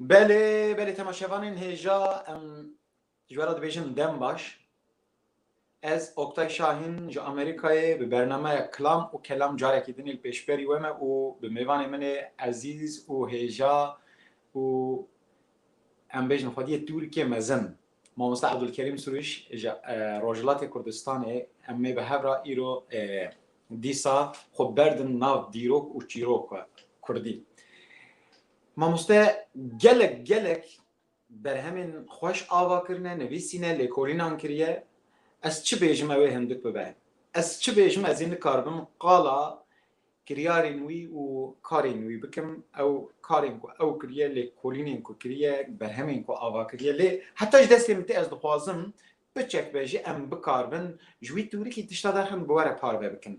Belê belê temaşevanên hêja em ji we re dibêjin dem baş. Ez Oktay Şahîn ji Amerîkayê bi bernameya Kilam û Kelam carekî din ê li pêşberî we me û bi mêvanê min ê ezîz û hêja û em bêjin xwediyê Tûrkê mezin. Mamosta Ebdulkerîm Sûrîş ji Rojhilatê Kurdistanê em ê bi hev re îro dîsa xwe berdin nav dîrok û çîrok e kurdî. Mamoste gelek gelek berhemên xweş ava kirine, nivîsîne, lêkolînan kiriye. Ez çi bêjim ew ê hindik bibe. Ez çi bêjim ez ê nikaribim qala Kiryarên wî û karên wî bikim, ew karên ku ew kiriye, lêkolînên ku kiriye, berhemên ku ava kiriye. Lê heta ji destê min tê ez dixwazim piçek be ji em bikaribin ji wî tûrikî tişta daxin bi we re parve bikin.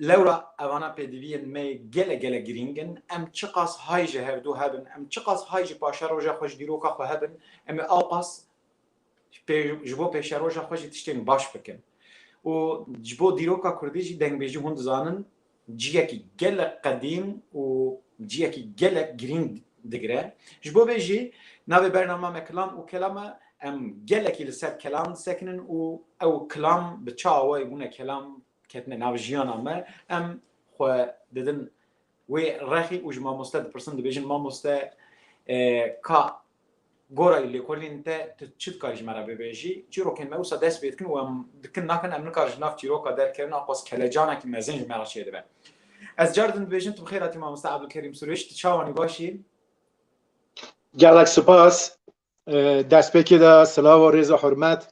Lewra evana pêdiviyên me gelek gelek girîng in. Em çiqas hay ji hevdû hebin, em çiqas hay ji paşeroja xwe ji dîroka xwe hebin, em ê awqas, ji bo pêşeroja xwe jî tiştên baş bikin û ji bo dîroka kurdî jî dengbêjî hûn dizanin ciyekî gelek qedîm û ciyekî gelek girîng digire. Ji bo vê jî navê bernama me Kilam û Kelam e. Em gelekî li ser kelam disekinin û ew kilam bi çi awayî bûne kelam ketine nav jiyana me em xwe didin wê rexî û ji mamoste dipirsin dibêjin mamoste ka Gora ê lêkolîn te tu çi dikarî ji me re bibêjî? Çîrokên me wisa dest pê dikin û em dikin nakin em nikar ji nav çîroka derkevin a qas kelecanekî mezin ji me re çêdibe. Ez car din dibêjim tu bi xêr hatî mamoste Ebdulkerîm Sûrêj, tu çawanî baş î? Gelek sipas. Destpêkê de silav û rêz û hurmet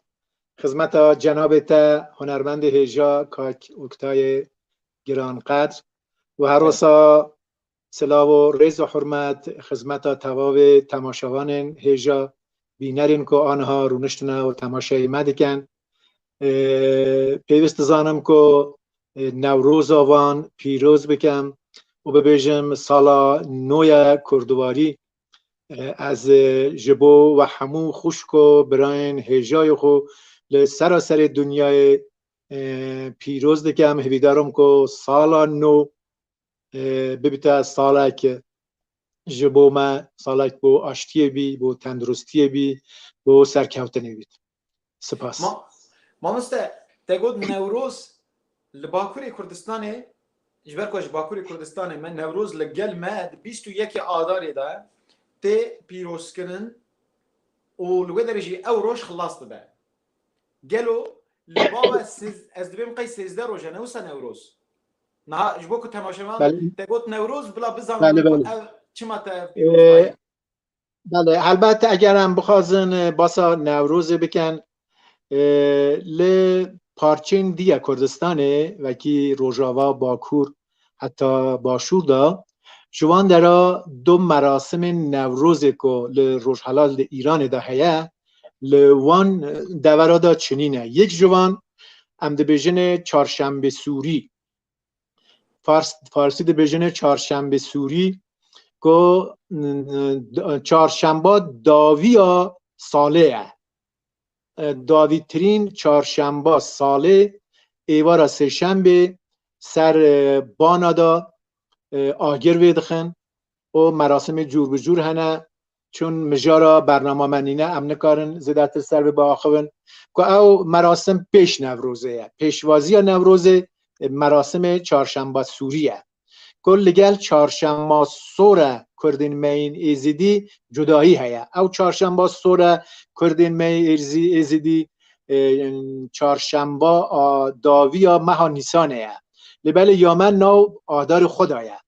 xizmeta cenabê te hunermendê hêja kak Oktayê giranqedr û her wisa Silav û rêz û hurmet xizmeta tevavê temaşevanên hêja bînerên ku aniha rûniştine û temaşeyê me dikin. Pêwîst dizanim ku Newroza van pîroz bikim û bibêjim sala nû ye kurdiwarî. Ez ji bo we hemû xwişk û birayên hêjayê xwe li seraserê dinyayê pîroz dikim. Hivîdar im ku sala nû bibite salek ji bo me salek bo aştiyê bî bo tenduristiyê bî bo serkewtinê bît sipas Mamoste te got newroz li bakurê kurdistanê ji ber ku ji bakurê kurdistanê me newroz li gel me di bîst û yekê adarê de tê pîrozkirin û li wê derê jî ew roj xilas dibe gelo li bava ez dibêm qey sêzdeh rojan e wisa newroz Niha ji bo ku temaşevan te got Newroz bila bizanin ku ev çima te pîroz dayê. Belê helbet eger em bixwazin basa Newrozê bikin li parçên dî ya Kurdistanê wekî Rojava, Bakur heta Başûr de ji wan dera du merasimên Newrozê ku li Rojhilat li Îranê de heye Li wan devera de çinî ne. Yek ji wan em dibêjinê çarşembê sûrî. Fars Farsî dibêjinê çarşembê sûrî ku çarşemba daviya salê ye. Davîtirîn çarşemba salê êvara sêşembê ser bana de agir vê dixin û merasimê cûr bi cûr hene çûn mijara bernama me nîne em nikarin zêdetir ser bi biaxivin ku ew merasim pêş Newrozê ye. Pêşvaziya Newrozê e, merasimê Çarşemba Sûrî ye. Ku li gel Çarşemba Sore Kurdên meyên Êzidî cudayî heye. Ew Çarşemba Sore Kurdên me Êrzî Êzidî e, Çarşemba a daviya meha Nîsanê ye. Lê belê ya me nav adarê xwe da ye.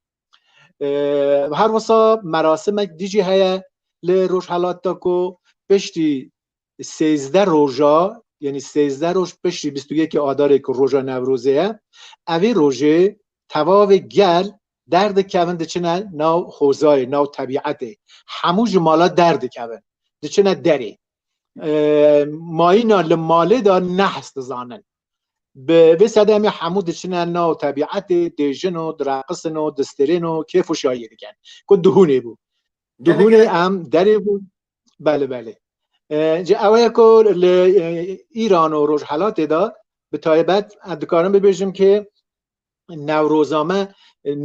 her wisa merasimek dijî heye li Rojhelat de ku piştî sêzdeh roja yenî sêzdeh roj piştî bîst û yekê Adarê ku roja Newrozê ye evî rojê tevavê gel derdikevin diçine nav xozayê nav tebîetê hemû ji mala derdikevin diçine derê mayîna li malê de nehs dizanin Bi vê sedemê hemû diçine nav tebîetê, dêjin û direqisin û distirên û kêf û şayiyê dikin. Ku duhûnê bû. Duhûnê em derê bû. Belê belê. Ji ew ye ku li Îran û Rojhelatê de bi taybet em dikarin bibêjim ki newroza me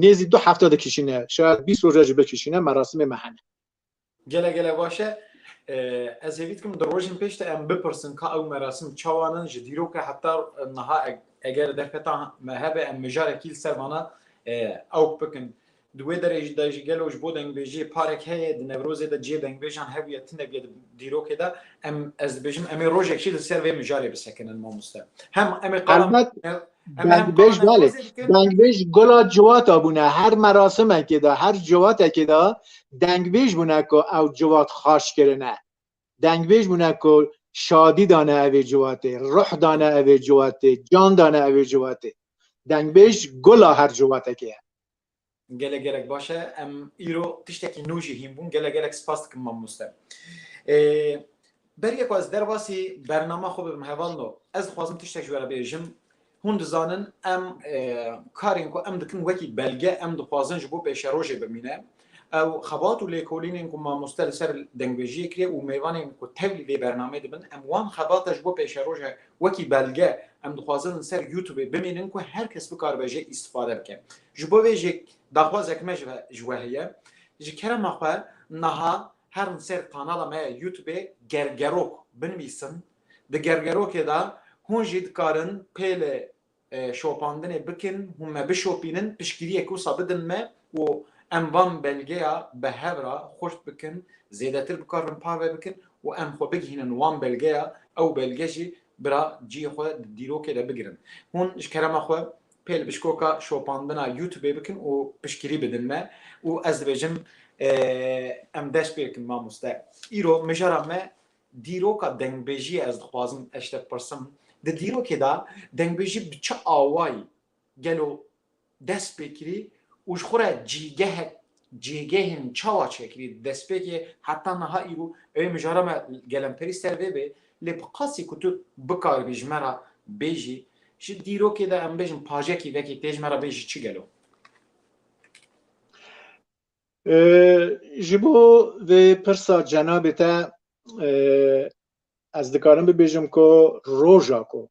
nêzî du hefta dikişîne. Şayad bîst roja jî bikişîne merasimê me hene. Gele gele baş e. Ez hêvî dikim di rojên pêş de em bipirsin ka ew merasim çawan in ji dîroka heta niha eger derfeta me hebe em mijarekî li ser vana ew bikin. Di wê derê jî de jî gelo ji bo dengbêjiyê parek heye di Newrozê de cihê dengbêjan hebûye tune bûye di dîrokê de em ez dibêjim em ê rojekî li ser vê mijarê bisekinin mamoste. Hem em ê qala Dengbêj belê. Dengbêj gula ciwata bûne. Her merasimekê de, her ciwatekê de dengbêj bûne ku ew ciwat xaş kirine. Dengbêj bûne ku şadî dane evê ciwatê, ruh dane evê ciwatê, can dane evê ciwatê. Dengbêj gula her ciwatekê ye. Gelek gelek baş e. Em îro tiştekî nû jî hîn bûn. Gelek gelek spas dikim mamoste. Beriye ku ez derbasî bernama xwe bibim heval no. Ez dixwazim tiştek ji we re bêjim. Hûn dizanin em karên ku em dikin wekî belge em dixwazin ji bo pêşerojê bimîne. Ew xebat û lêkolînên ku mamoste li ser dengvêjiyê kiriye û mêvanên ku tevlî vê bernameyê dibin em wan xebata ji bo pêşeroja Wekî belge em dixwazin ser Youtubê bimînin ku her kes bikaribe jê îstifade bike. Ji bo vê jê daxwazek me ji we heye. Ji kerema xwe niha herin ser kanala me ya Youtubê Gergerok binivîsin. Di gergerokê de hûn jî dikarin pêlê şopandinê bikin, hûn me bişopînin, piştgiriyek wisa bidin me û em van belgeya bi hev re xurt bikin, zêdetir bikarin parve bikin û em xwe bigihînin wan belgeya, ew belge jî bira ciyê xwe di dîrokê de bigirin. Hûn ji kerema xwe pêl bişkoka şopandina Youtubê bikin û piştgirî bidin me û ez dibêjim em dest pê bikin mamoste. Îro mijara me Dîroka dengbêjiyê ez dixwazim ez ji te bipirsim, di dîrokê de dengbêjî bi çi awayî gelo dest pê kirî û ji xwe re cîgehek cêgehên çawa çêkirî di destpêkê heta niha îro? Ew ê mijara me gelemperî ser vê bê lê bi qasî ku tu bikaribî ji me re bêjî ji dîrokê de em bêjin pajekî vekî tê ji me re bê ji çi gelo? Ji bo vê pirsa cenabê te ez dikarim bibêjim ku roja ku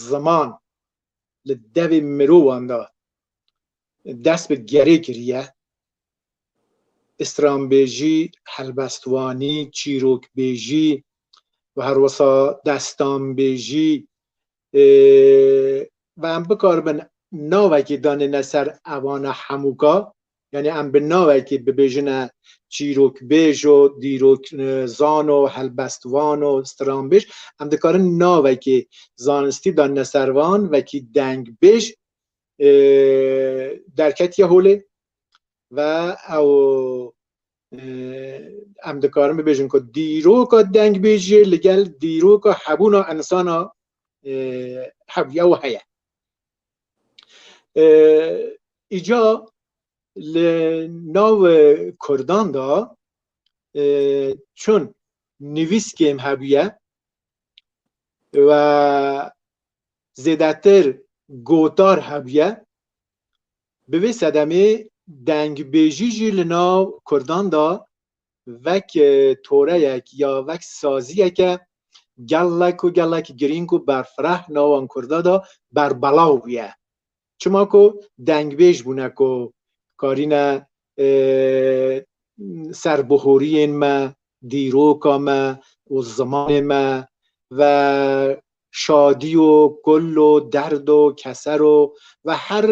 ziman li devê mirovan de dest bi gerê kiriye, stranbêjî, helbestvanî, çîrokbêjî û herwisa destanbêjî Ve em bikaribin navekî danêne ser evana hemûka, yanî em bi navekî bibêjine çîrokbêj o, dîrokzan o, helbestvan o, stranbêj, em dikarin navekî zanistî danine ser van, vekî dengbêj derketiye holê ve ew em dikarin bibêjin ku dîroka dengbêjiyê li gel dîroka hebûna insana hebûye û heye îca li nav kurdan da çun nivîskêm hebûye ve zêdetir gotar hebûye Bi vê sedemê dengbêjî jî li nav Kurdan de vek toreyek ya vek saziyeke gelek û gelek girîng û berfireh nawan Kurda de berbelav bûye. Çima ku dengbêj bûne ku karîne serbihûriyên me, dîroka me û zimanê me ve şadî û kul û derd û keser û ve her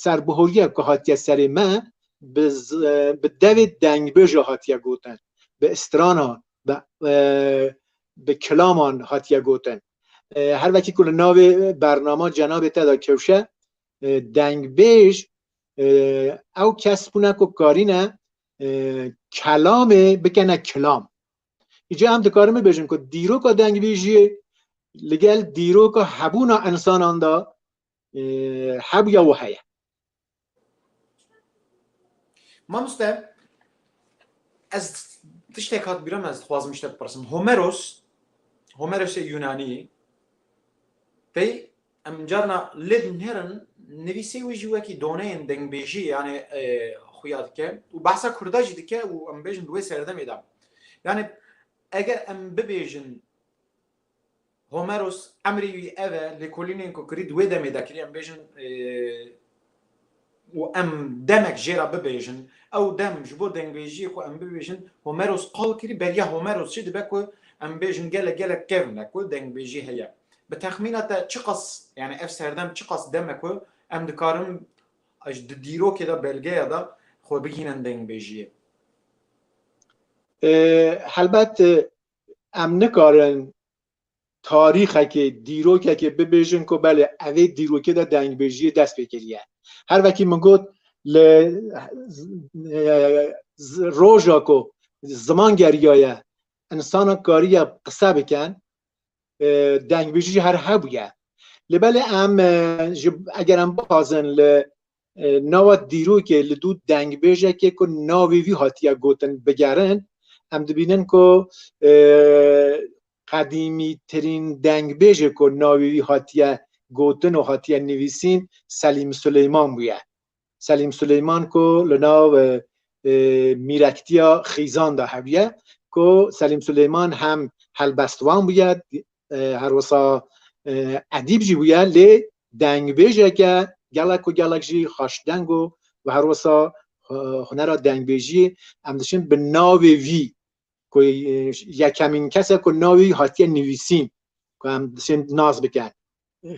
serbihûriyek ku hatiye serê me bi devê dengbêje hatiye gotin, bi stranan, bi kilaman hatiye gotin. Her wekî ku li navê bernama cenabê te de kewşe Dengbêj ew kes bûne ku karîne kelamê bikene kilam. Îca em dikarin bibêjin ku dîroka dengbêjiyê li gel dîroka hebûna insanan da hebûya û heye. Mamoste ez tiştek hat bîra me ez dixwazim ji te bipirsim. Homeros Homerosê Yunanî pey Em carna li din herin nivîsê wî jî wekî doneyên dengbêjî yanê xuya dike û behsa kurda jî dike û em bêjin di wê serdemê de yanê eger em bibêjin Homeros emrê wî ev e lêkolînên ku kirî di wê demê de kirî em bêjin û em demek jê re bibêjin. Ew dem ji bo dengbêjiyê ku em bibêjin Homeros qal kirî, beriya Homeros jî dibe ku em bêjin gelek gelek kevn e ku dengbêjî heye. Bi texmîna te çiqas yanî ev serdem çiqas dem e ku em dikarin ji di dîrokê de belgeya de xwe bigihînin dengbêjiyê? Helbet em nikarin tarîxekê, dîrokekê bibêjin ku belê evê dîrokê de dengbêjiyê dest pê kiriye. Her vekî min got li roja ku ziman geriyaye însanan kariye qise bikin dengbêjî jî her hebûye. Li belê em ji eger em bixwazin li Nava dîrokê li dû dengbêjekê ku navê wî hatiye gotin bigerin em dibînin ku qedîmîtirîn dengbêjê ku navê wî hatiye gotin û hatiye nivîsîn Selîm Suleyman bûye. Selîm Suleyman ku li nav mîrektiya xîzan de hebûye ku Selîm Suleyman hem helbestvan bûye Her wisa edîb jî bûye lê dengbêjeke gelek û gelek jî xweşdeng û bi her wisa hunera dengbêjiyê em diçin bi navê vî ku yekemîn kese ku navê wî hatiye nivîsîn ku em diçin nas bikin.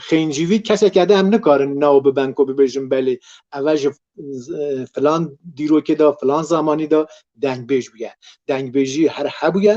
Xêncî vî keseke de em nikarin nav biben ku bibêjin belê eve ji filan dîrokê de filan zamanî de dengbêj bûye. Dengbêjî her hebûye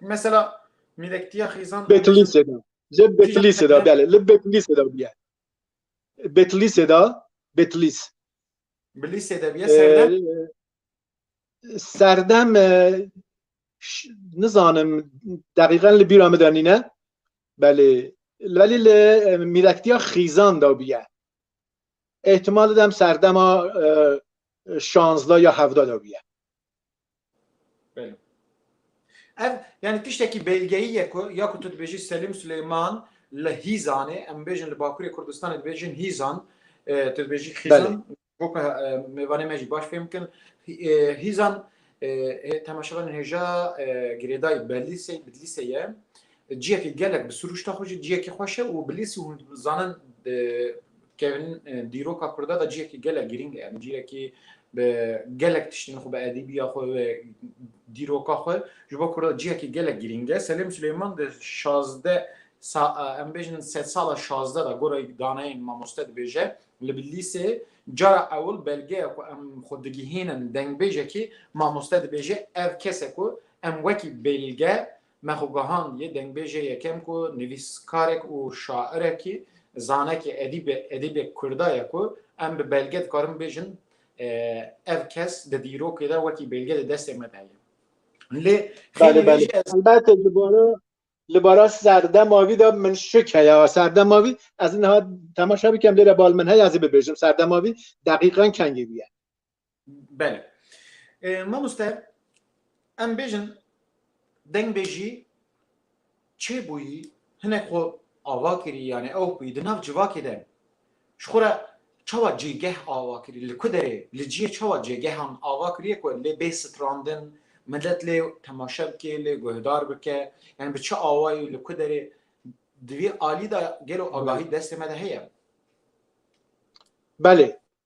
Mesela mîlektiya xîzan Betlîsê de. Ji Betlîsê de belê. Li Betlîsê de bûye. Betlîsê de Betlîs. Bilîsê de bûye serdem. Serdem nizanim deqîqen li bîra min de nîne. Belê. Belê li mîlektiya xîzan de bûye. Îhtimal didem serdema şanzda ya hevda de bûye. Belê. Ev yanî tiştekî belgeyî ye ku ya ku tu dibêjî Selîm Silêman li Hîzanê, em bêjin li Bakurê Kurdistanê dibêjin Hîzan, tu dibêjî Xîzan, boka mêvanê me jî baş fêm bikin. Hîzan temaşevanên hêja girêdayî Bedlîsê Bedlîsê ye. Ciyekê gelek bi sirûşta xwe jî ciyekê xweş e û bi lêsî hûn dizanin kevin dîroka kurda de ciyekê gelek girîng e yanî ciyekê bi gelek tiştên xwe bi edîbiya xwe ve dîroka xwe ji bo kurda ciyekê gelek girîng e Selêm Silêman di şazdeh em bêjin sed sala şazdeh de gora daneyên mamoste dibêje li bi lîsê cara ewil belgeya ku em xwe digihînin dengbêjekî mamoste dibêje ev kese ku em wekî belge Me xwe gihand yê dengbêjê yekem ku nivîskarek û şairekî, zanekî, edîbê, edîbê Kurda ye ku em bi belge dikarin bêjin ev kes di dîrokê de wekî bêlge di destê me de heye. Lê xêlî vê jî ez. Elbette li bara li bara serdema vî de min şik heye serdema vî ez niha temaşe bikim lê bal min heye ez ê bibêjim serdema vî deqîqan kengî bûye. Belê. Mamoste em bêjin dengbêjî çêbûyî hinek xwe ava kirî yanî ew bûyî di nav civakê de ji xwe re çawa cêgeh ava kirî li ku derê li cihê çawa cêgehan ava kiriye ku lê bê strandin milet lê temaşe bike lê guhdar bike yanî bi çi awayî li ku derê di vî alî de gelo agahî destê me de heye. Belê.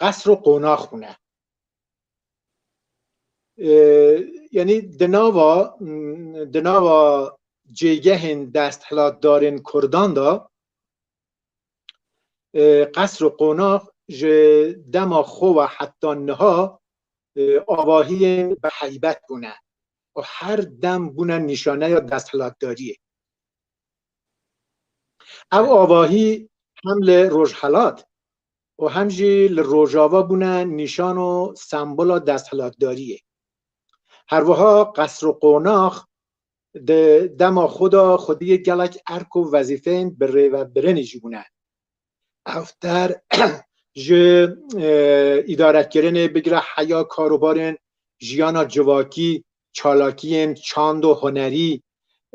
qesr û qonax hûne. Yanî di nava di nava cêgehên desthilatdarên Kurdan de qesr û qonax ji dema xwe ve heta niha avahiyên bi heybet bûne û her dem bûne nîşaneya desthilatdariyê. Ev avahî hem li Rojhelat û hem jî li Rojava bûne nîşan û sembola desthilatdariyê. Herwiha qesr û qonax di dema xwe de xwediyê gelek erk û wezîfeyên birêvebirinê jî bûne. Hevter ji îdarekirinê bigire heya karobarên jiyana civakî, çalakiyên çand û hunerî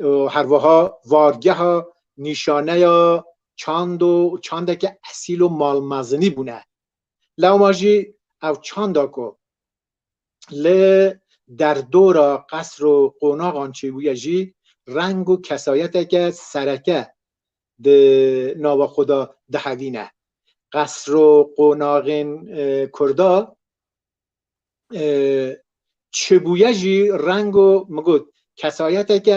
û herwiha vargeha nîşaneya çand û çandeke esîl û malmezinî bûne. Lewma jî ev çanda ku li derdora qesr û qonaxan çêbûye jî reng û kesayeteke sereke di nava xwe de dihevîne. Qesro qonaxên Kurda çibûye jî rengo min got kesayeteke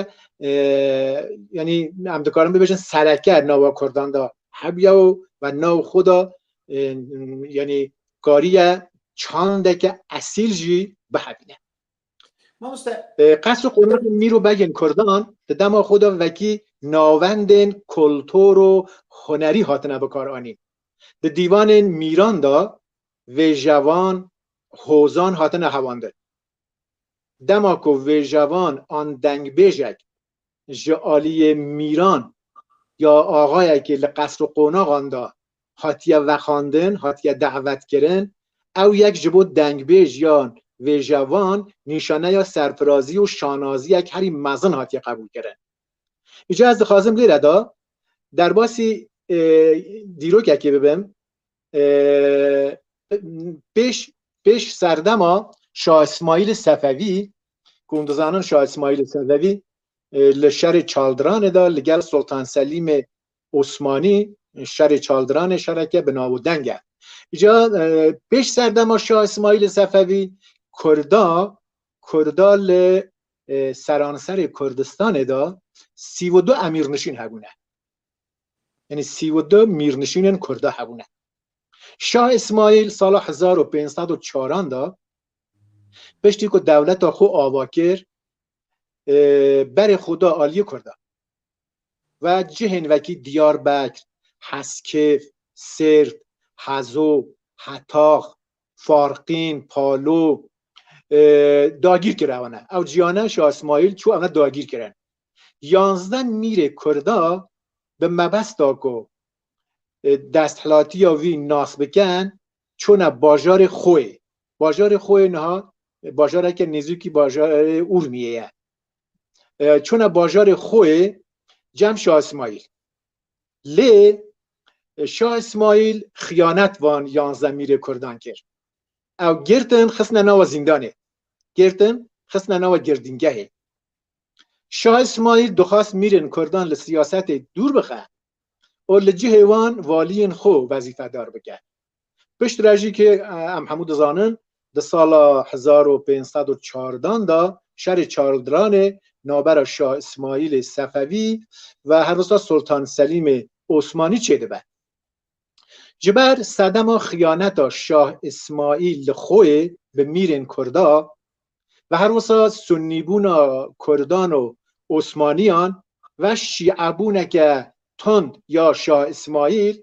yanî em dikarin bibêjin sereke nava Kurdan de hebûye û ve nav xwe de yanî kariye çandeke esîl jî bihevîne. Qes û qûnexên mîr û begên kurdan di dema xwe de wekî navendên kultur û hunerî hatine bikaranîn. Di dîwanên mîran de vêjevan, hozan hatine hevandin. Dema ku vêjevan an dengbêjek ji aliyê mîran ya axayekî li qesr û qonaxan de hatiye vexandin, hatiye davetkirin. Ew yek ji bo dengbêj yan vêjevan nîşaneya serfirazî û şanaziyek herî mezin hatiye qebûlkirin. Îcar ez dixwazim lêre de derbasî dîrokekî bibim. Pêş pêş serdema Şah Îsmaîlî Sefevî ku hûn dizanin Şah İsmaîlê Sefevî li şerê çaldiranê de li gel Soltan Selîmê Osmanî şerê çaldiranê şereke bi nav û deng e. Îca pêş serdema Şah İsmaîlê Sefevî Kurda Kurda li seranserê Kurdistanê de sî û du emîrnişîn hebûne. Yanî sî û du mîrnişînên Kurda hebûne. Şah İsmaîl sala hezar û pênc sed û çaran de Piştî ku dewleta xwe ava kir berê xwe da aliyê Kurdan ve cihên vekî Diyarbekr, Heskêf, Sêrt, Hezo, Hetax, Farqîn, Palo dagîr kir ew ne. Ew ciyane Şah Îsmaîl çû ew ne dagîr kirin. Yanzde mîrê Kurda bi mebesta ku desthilatîya wî nas bikin çûna bajarê Xoyê. Bajarê Xoyê niha bajareke nêzîkî bajarê Urmiyê ye. Çûna bajarê Xoyê cem Şah İsmail. Lê Şah İsmail xiyanet van yanze mîrê Kurdan kir. Ew girtin xistine nawa zîndanê. Girtin xistine nawa girdîngehê. Şah Îsmaîl dixwest mîrên kurdan li siyasetê dûr bixe û li cihê wan valiyên xwe wezîfedar bike. Piştre jî kê em hemû dizanin di sala hezar û pênc sed û çardan de şerê Çarldiranê navbera Şah Îsmaîlê Sefevî ve her wisa Sultan Selîmê Osmanî çêdibe. Ji ber sedema xiyaneta Şah Îsmaîl li Xoyê bi mîrên Kurda ve her wisa sunnîbûna Kurdan û Osmaniyan ve şîebûneke tund ya Şah Îsmaîl,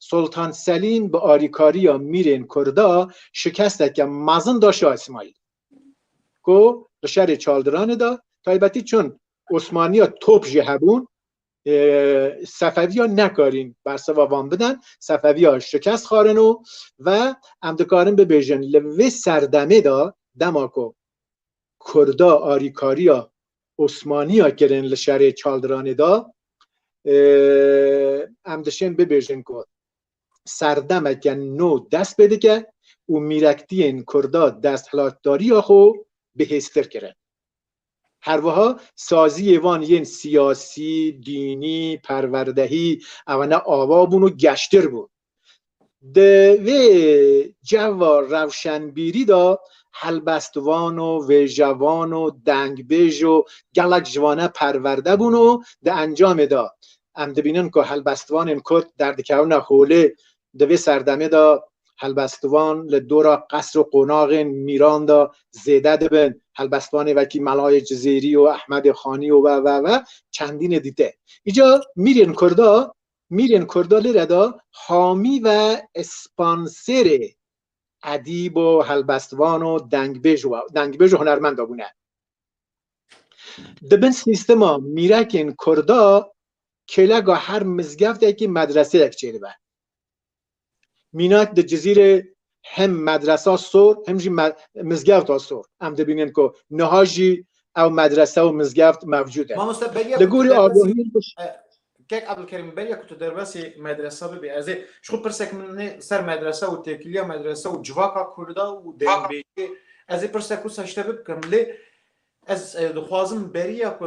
Sultan Selîm bi arîkariya mîrên Kurda şikesteke mezin da Şah Îsmaîlê ku li şerê çaldiranê de taybetî çund Osmaniya top jî hebûn sefeviya nekarîn bersiva van bidin sefeviya şikest xwarin û ve em dikarin bibêjin li vê serdemê de dema ku Kurda arîkariya Osmaniya kirin li şerê Çaldiranê de em dişên bibêjin ku serdemeke nû dest pê dike û mîrektiyên Kurda desthilatdariya xwe bihêztir kirin. Herwiha saziyê van yên siyasî, dînî, perwerdehî ew ne ava bûn û geştir bûn. Di vê ceva rewşenbîrî de helbestvan û vêjevan û dengbêj û gelek ji wan e perwerde bûn û di encamê de em dibînin ku helbestvanên Kurd derdikevine holê Di vê serdemê de helbestvan li dora qesr û qonaxên mîran de zêde dibin, helbestvanê wekî Melayê Cizêrî û Ehmedê Xanî û ve ve ve çendînê dîte. Îca mîrên Kurd a mîrên Kurd a lêre de hamî ve spanserê edîb û helbestvan û dengbêj û dengbêj û hunermend a bûne. Di bin sîstema mîrekên Kurd a kêleka her mizgeftekî medreseyek çêdibe. Mînak di Cizîrê hem medresa sor hem jî mizgefta sor. Em dibînin ku niha jî ew medrese û mizgeft mevcûd e. Li gorî agahî Kek Abdulkerim beriya ku tu derbasî medresa bibî ez ê ji xwe pirsek min ser medresa û têkiliya medresa û civaka Kurda û dêrnbêjê ez ê pirsek wisa ji te bibikim lê ez dixwazim beriya ku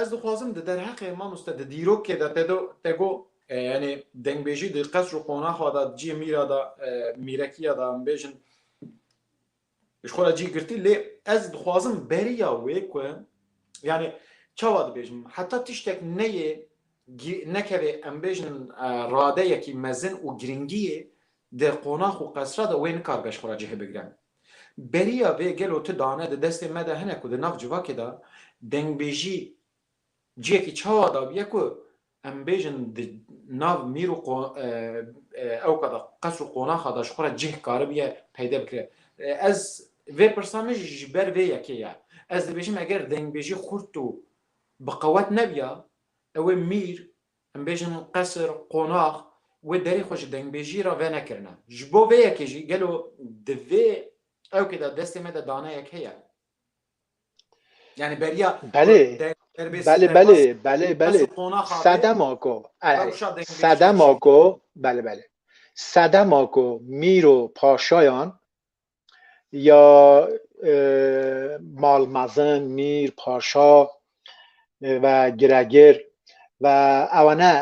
Ez dixwazim di derheqê mamoste di dîrokê de te do te go yanê dengbêjî di qesr û qonaxa de cî mîra de mîrekiya de em bêjin ji xwe re cî girtî lê ez dixwazim beriya wê ku yanê çawa dibêjim heta tiştek neyê nekevê em bêjin radeyekî mezin û girîngiyê di qonax û qesra de wê nikaribe ji xwe re cihê bigire. Beriya vê gelo tu dane di destê me de hene ku di nav civakê de dengbêjî ciyekî çawa dabiye ku em bêjin di nav mîr û ewka de qes û qonaxa de ji xwe re cih karibiye peyde bikire. Ez vê pirsa min jî ji ber vê yekê ye. Ez dibêjim eger dengbêjî xurt û bi qewet nebiya, ew ê mîr Em bêjin qesr, qonax wê derê xwe ji dengbêjiyê re venekirine. Ji bo vê yekê jî gelo di vê ewkê de destê me de daneyek heye? Yanî beriya Belê, derbê belê, belê, serbaz belê, û belê. qesr qonaxa vê Sedema ku, erê, rewşa dengbêjiyê çi sedema ye? ku, belê, belê. Sedema ku mîr û paşayan ya mal mezin mîr paşa ve giregir ve ewane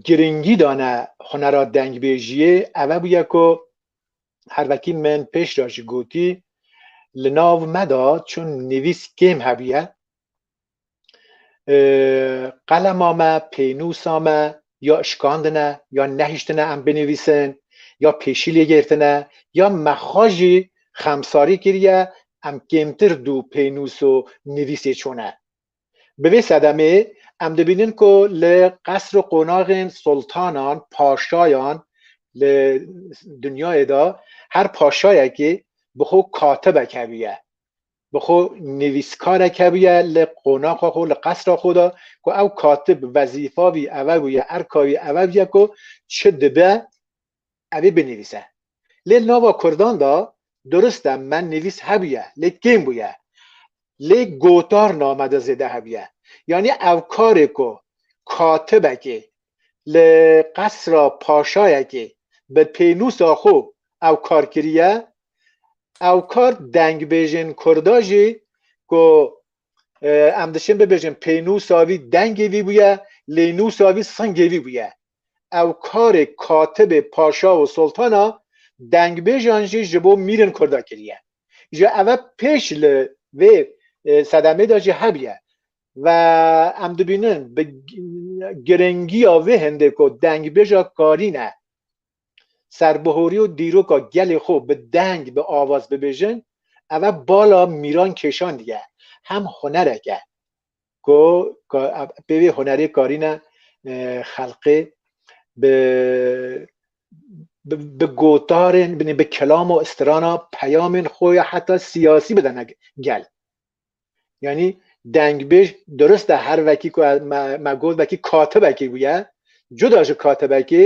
girîngî dane hunera dengbêjiyê eve bûye ku her wekî min pêş de jî gotî li nav me de çûn nivîs kêm hebûye qelema me pênûsa me ya şikandine ya nehiştine em binivîsin ya pêşî lê girtine ya mexwa jî xemsarî kiriye em kêmtir dû pênûs û nivîsê çûne. Bi vê sedemê em dibînin ku li qesr û qonaxên sultanan, paşayan li dinyayê de her paşayekî bi xwe katibek hebûye. bi xwe nivîskarek hebûye li qonaxa xwe, li qesra xwe de ku ew katib wezîfa wî ev e bûye, erka wî ev bûye ku çi dibe ev ê binivîse. Lê li nava Kurdan de dirust e me nivîs hebûye lê kêm bûye. Lê gotarname de zêde hebûye. Yanî ev karê ku katibekê li qesra paşayekê bi pênûsa xwe ew kar kiriye ew kar dengbêjên Kurda jî ku em dişin bibêjin pênûsa vî dengê vî bûye lê nûsa vî singê vî bûye. Ew karê katibê paşa û soltana dengbêjan jî ji bo mîrên Kurda kiriye. Ji eve pêş li vê sedemê de jî hebûye ve em dibînin bi giringiya vê hindê ku dengbêja karî ne serbihorî û dîroka gelê xwe bi deng bi avaz bibêjin ev e bala mîran kêşan diye hem hunerek e ku pê vê hunerê karîne xelqê bi bi gotarên bi kelam û istirana peyamên xwe ya heta siyasî bidene gel. Yanî dengbêj dirist e her vekî ku me got vekî katibekî bûye cuda ji katibekî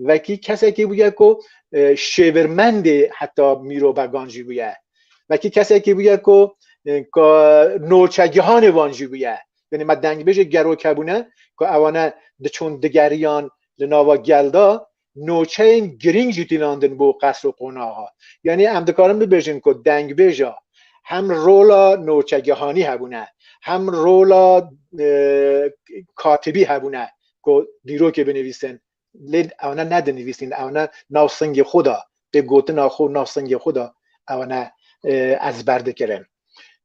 vekî kesekî bûye ku e, şêvirmendê heta mîrobegan jî bûye vekî kesekî bûye ku e, noçegihanê wan jî bûye yani me dengbêjê gerokebûne ku ewane diçûn digeriyan li nava gelda نوچeyên girîng jî tînandin bo qesr û qonaxa. Yanî em dikarin bibêjin ku dengbêja hem rola noçegihanî hebûne, hem rola katibî hebûne ku dîrokê binivîsin. Lê ew ne nedinivîsîn, ew ne nav singê xwe de tê gotina xwe û nav singê xwe de ew ne ezber dikirin.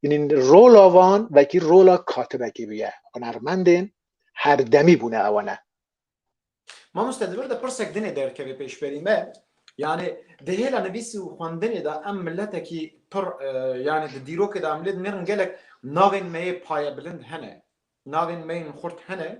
Yanî rola wan wekî rola katibekî bûye. Hunermendên herdemî bûne ew ne. Mamoste li vir de pirsek dinê derkeve pêşberî me yanê di hêla nivîsî û xwendinê de em miletekî pir yanê di dîrokê de em lê dinêrin gelek navên me yê payebilind hene navên me yên xurt hene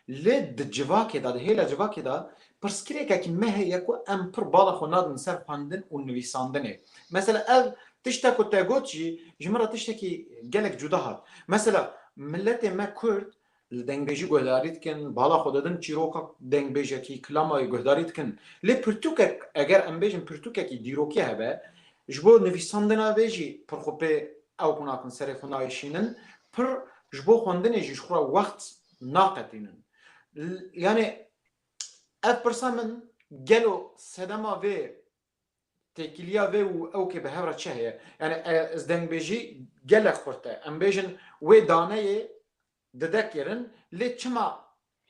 lê di civakê de di hêla civakê de pirsgirêkekî me heye ku em pir bala xwe nadin ser xwendin û nivîsandinê mesela ev tişta ku te got jî ji min re tiştekî gelek cuda hat mesela miletê me kurd Li dengbêjî guhdarî dikin, bala xwe didin çîroka dengbêjekî, klamayê guhdarî dikin. Lê pirtûkek, eger em bêjin pirtûkekî dîrokî hebe, ji bo nivîsandina vê jî pir xwe pê ew ku nakin serê xwe nayişînin, pir ji bo xwendinê jî ji xwe re wext naqetînin. Yanî ev pirsa min, gelo sedema vê Têkiliya vê û ew kê bi hev re çi heye? Yanî ez dengbêjî gelek xurt e. Em bêjin wê daneyê dide kirin lê çima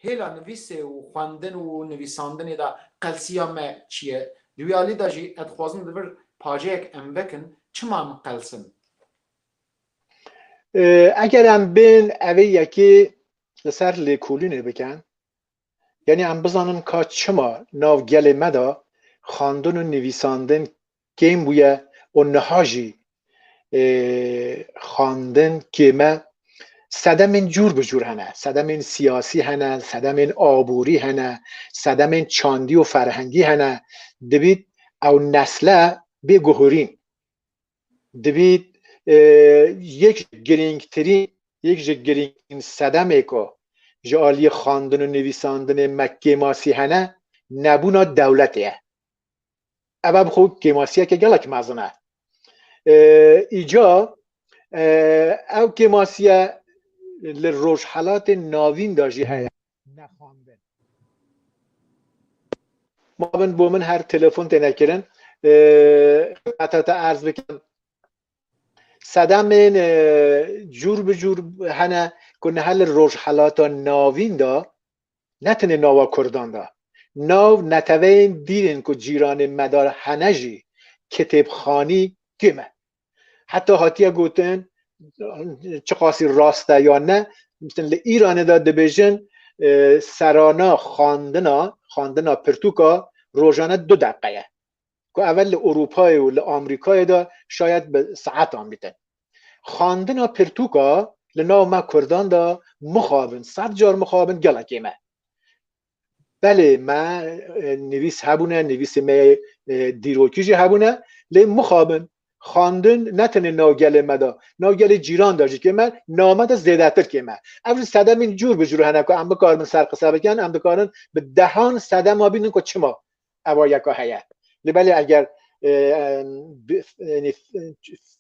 hêla nivîsê û xwendin û nivîsandinê de qelsiya me çi ye? Di wî alî de jî ez dixwazim li vir pajeyek em vekin çima em qelsin? Eger em bên evê yekê li ser lêkolînê bikin Yanî em bizanin ka çima nav gelê me de xwendin û nivîsandin kêm bûye û niha jî xwendin kêm e. Sedemên cûr bi cûr hene. Sedemên siyasî hene, sedemên aborî hene, sedemên çandî û ferhengî hene. Dibît ew nesle bê guhurîn. Dibî yek ji girîngtirîn yek ji girîngtirîn sedemê ku ji aliyê xwendin û nivîsandinê me kêmasî hene nebûna dewletê ye. Ev bi xwe kêmasiyeke gelek mezin e. Îca ew kêmasiye li Rojhelatê Navîn de jî heye. nexandin. Ma bin bo min her telefon têne kirin. Xidmeta te erz bikim. Sedemên cûr bi cûr hene ku niha li Rojhilata Navîn de ne tenê nava Kurdan de nav neteweyên dîrên ku cîranên me de hene jî kitêbxanî tê me. Heta hatiye gotin çiqasî rast e ya ne mistin li Îranê de dibêjin e, serana xandina xandina pirtûka rojane du deqe ye ku evel li Ewropayê û li Amerîkayê de şayet bi saetan bîtin. Xandina pirtûka li nav me Kurdan de mixabin, sed car mixabin gelekê me. belê me nivîs hebûne nivîsê me dîrokî jî hebûne lê mixabin xandin ne tenê nav gelê me de nav gelê cîran de jî kê me name de zêdetir kê me ev jî sedemîn cûr bi cûr hene ku em bikarin ser qise bikin em dikarin bi dehan sedema bînin ku çima ewa yeka heye li belê eger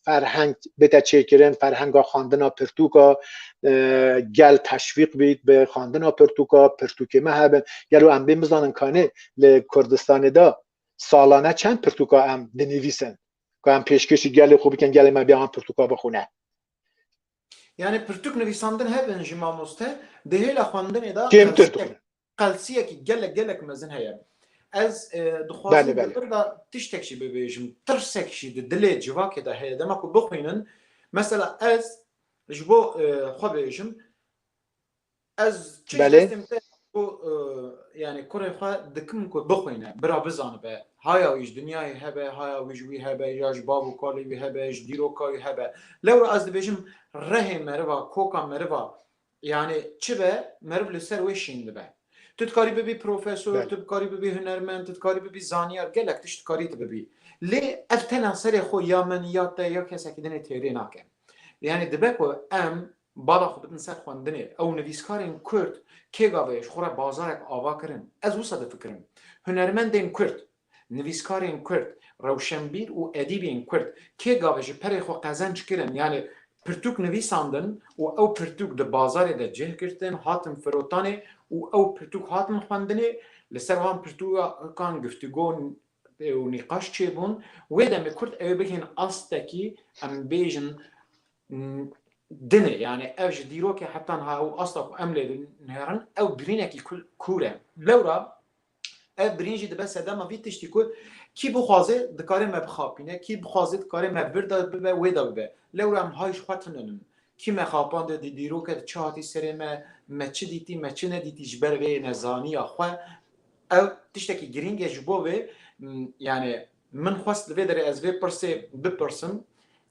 ferheng bite çêkirin ferhenga xandina pirtûka gel teşvîq bît bi xandina pirtûka pirtûkê me hebin gelo em bê bizanin kanê li Kurdistanê de salane çend pirtûka em dinivîsin ku em pêşkêşî gelê xwe bikin gelê me bê an pirtûka bixwine Yani pirtûk nivîsandin hebin ji mamoste di hêla xwendinê de kêmtir dixwin qelsiyekî gelek gelek mezin heye. Ez dixwazim li vir de tiştek jî bibêjim. Tirsek jî di dilê civakê de heye. Dema ku bixwînin, mesela ez ji bo xwe bêjim, ez çi ji destê min tê ku yanî kurê xwe dikim ku bixwîne, bira bizanibe. Haya wî ji dinyayê hebe, haya wî ji wî hebe ya ji bav û kalê wî hebe, ji dîroka wî hebe. Lewra ez dibêjim rehê meriva, koka meriva Yanî çi be meriv li ser wê şîn dibe. Tu dikarî bibî profesor, tu dikarî bibî hunermend, tu dikarî bibî zanyar, gelek tişt dikarî tu bibî. Lê ev tena serê xwe ya min ya te ya kesekî din ê têrê nake. Yanî dibe ku em bala xwe bidin ser xwendinê ew nivîskarên Kurd kê gavê ji xwe re bazarek ava kirin. Ez wisa difikirim. Hunermendên Kurd Nivîskarên Kurd, rewşenbîr û edîbên Kurd kê gavê ji perê xwe qezenc kirin yanê pirtûk nivîsandin û ew pirtûk di bazarê de cih girtin, hatin firotanê û ew pirtûk hatin xwendinê, li ser wan pirtûkan giftugo û nîqaş çêbûn, wê demê Kurd ew ê bigihîn astekî em bêjin din e, yanê ev ji dîrokê heta niha ew asta ku em lê dinihêrin ew birînekî kûr e. Lewra Ev birîn jî dibe sedema vî tiştî ku kî bixwaze dikare me bixapîne, kî bixwaze dikare me vir de bibe wê de bibe. Lewra em hay ji xwe tune bin. Kî me xapande di dîroke de çi hatî serê me, me çi dîtî, me çi nedîtî ji ber vê nezaniya xwe. Ew tiştekî girîng e ji bo vê yanî min xwest li vê derê ez vê pirsê bipirsim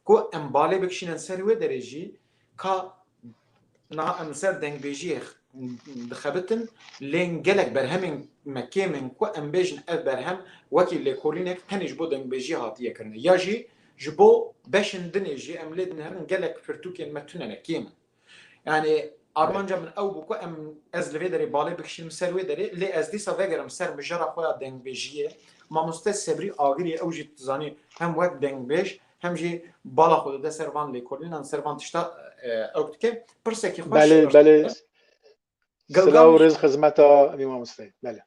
ku em balê bikişînin ser wê derê jî Ka niha em li ser dengbêjiyê dixebitin lê gelek berhemên me kêm in ku em bêjin ev berhem wekî lêkolînek tenê ji bo dengbêjiyê hatiye kirine ya jî ji bo beşên din ê jî em lê dinêrin gelek pirtûkên me tune ne kêm in. Yanî armanca min ew bû ku em ez li vê derê balê bikişînim ser wê derê lê ez dîsa vegerim ser mijara xwe ya dengbêjiyê. Mamoste Sebrî Agirî ew jî tu zanî hem wek dengbêj hem jî bala xwe dide ser van lêkolînan, ser van tişta ew dike. Pirsekî xweş Belê, belê. Silav û rêz xizmeta vî mamosteyê. Belê.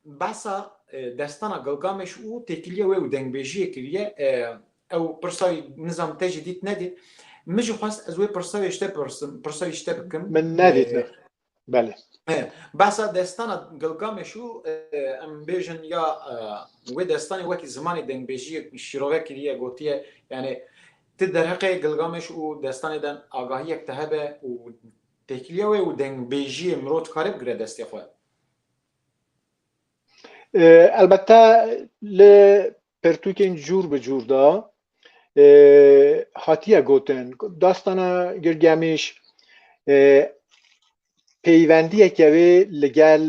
Behsa destana Gilgameş û têkiliya wê û dengbêjiyê kiriye. Ew pirsayî nizam te jî dît nedît. Min jî xwest ez wê pirsa wê ji te pirsim, pirsa wî ji te bikim. Min nedît ne. Belê. Behsa destana Gilgameş û em bêjin ya wê destanê wekî zimanê dengbêjiyê şîrove kiriye gotiye yanê ti derheqê Gilgameş û destanê de agahiyek te hebe û têkiliya wê û dengbêjiyê mirov dikare bigire destê xwe. Elbette li Pirtûkên cûr bi cûr de hatiye gotin ku dastana Gilgemîş peywendiyeke wê li gel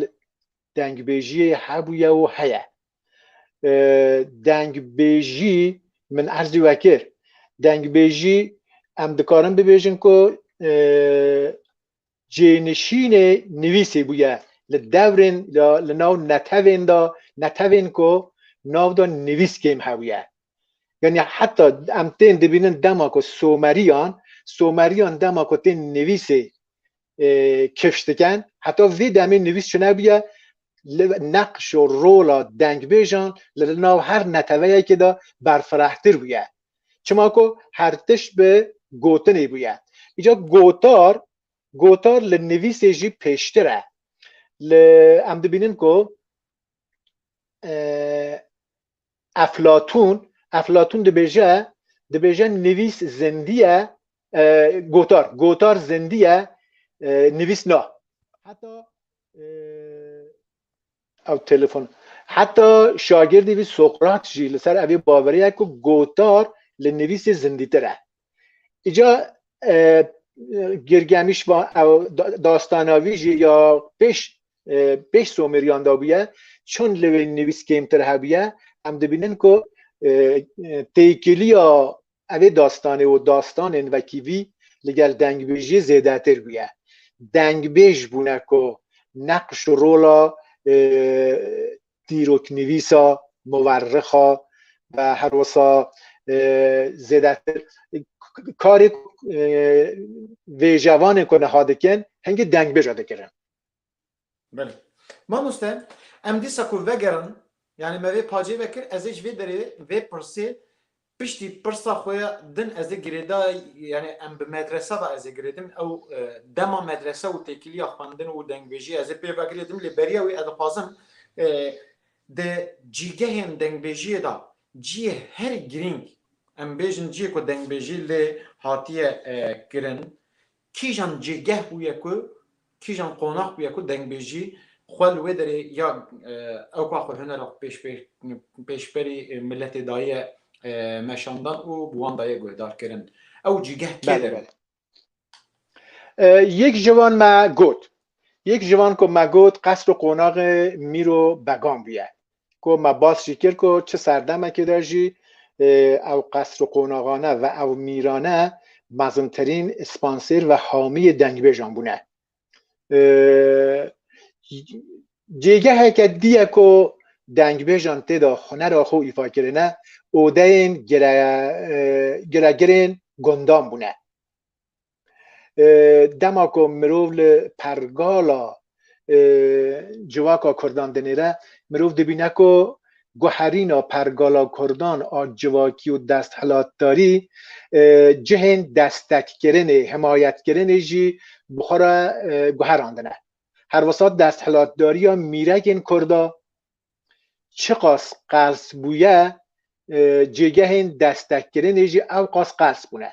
dengbêjiyê hebûye û heye. Dengbêjî min erzî wekir. Dengbêjî em dikarin bibêjin ku Cênişînê nivîsê bûye li devrên de li nav netewên de, netewên ku nav de nivîs kêm hebûye. Yanî heta em tên dibînin dema ku Someriyan, Someriyan dema ku tên nivîsê kifş dikin, heta vê demê nivîs çinebûye, li neqş û rola dengbêjan li nav her neteweyekê de berfirehtir bûye. Çima ku her tişt bi gotinê bûye. Îca gotar gotar li nivîsê jî pêştir e. Li em dibînin ku Eflatûn Eflatûn dibêje dibêje nivîs zindiye gotar gotar zindiye nivîs na. Heta Ew telefon heta şagirdî vî Sokrat jî li ser evê baverê ye ku gotar li nivîsê zindîtir e. Îca e, Girgemîş va ew dastana vî jî ya pêş e, pêş Somêriyan da bûye çend li wê nivîs kêmtir hebûye em dibînin ku e, e, têkiliya Evê dastanê û dastanên wekî vî li gel dengbêjiyê zêdetir bûye. Dengbêj bûne ku neqş û rola dîroknivîsa, muwerrixa ve her wisa zêdetir karê ku vêjevanên ku niha dikin hingî dengbêj re dikirin. Belê. Mamoste, em dîsa ku vegerin, yanî me vê pacê vekir, ez ê ji vê derê vê pirsê piştî pirsa xwe ya din ez ê girêda, yanî em bi medresa de ez ê girêdim, ew dema medresa û têkiliya xwendin û dengbêjiyê ez ê pê ve girêdim lê beriya wî ez dixwazim di cîgehên dengbêjiyê de ciyê herî girîng, em bêjin ciyê ku dengbêjî lê hatiye kirin, Kîjan cêgeh bûye ku, kîjan qonax bûye ku dengbêjî xwe li wê derê ya ew ka xwe hunera xwe pêş pêş pêşberî miletê daye meşandan û bi wan daye guhdarkirin. Ew cîgeh kê der e? Yek ji wan me got. Yek ji wan ku me got qesd û qonaxê Mîro Began bûye. ku me bas jî kir ku çi serdemekê de jî ew qesr û qonaxane ve ew mîrane mezintirîn spansêr ve hamiyê dengbêjan bûne. Cêgeheke dî ye ku dengbêjan tê de hunera xwe îfa kirine odeyên giregirên gundan bûne. dema ku mirov li pergala civaka Kurdan dinêre mirov dibîne ku guherîna pergala Kurdan a civakî û desthilatdarî cihên destekkirinê, himayetkirinê jî bi xwe re guherandine. Herwisa desthilatdariya mîrekên Kurda çiqas qels bûye cêgehên destekkirinê jî ewqas qels bûne.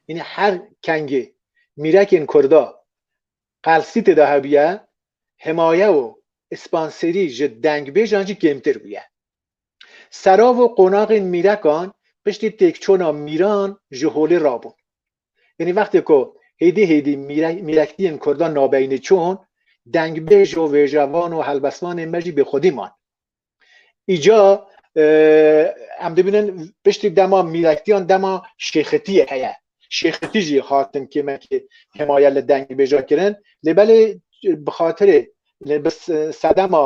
Yine her kengê mîrekên Kurda qelsî têda hebûye, himaye û spansêrî ji dengbêjan jî kêmtir bûye. Serav û qonaxên mîrekan piştî têkçûna mîran ji holê rabûn. Yanî wextê ku hêdî hêdî mîrektiyên Kurdan nabeyne çûn, dengbêj û vêjevan û helbestvanên me jî bêxwedî man. Îca em dibînin piştî dema mîrektiyan dema şêxitiyê heye. Şêxitî jî hatin kêmekê hêmaya li dengê bêja kirin lê belê bi xatirê bi sedema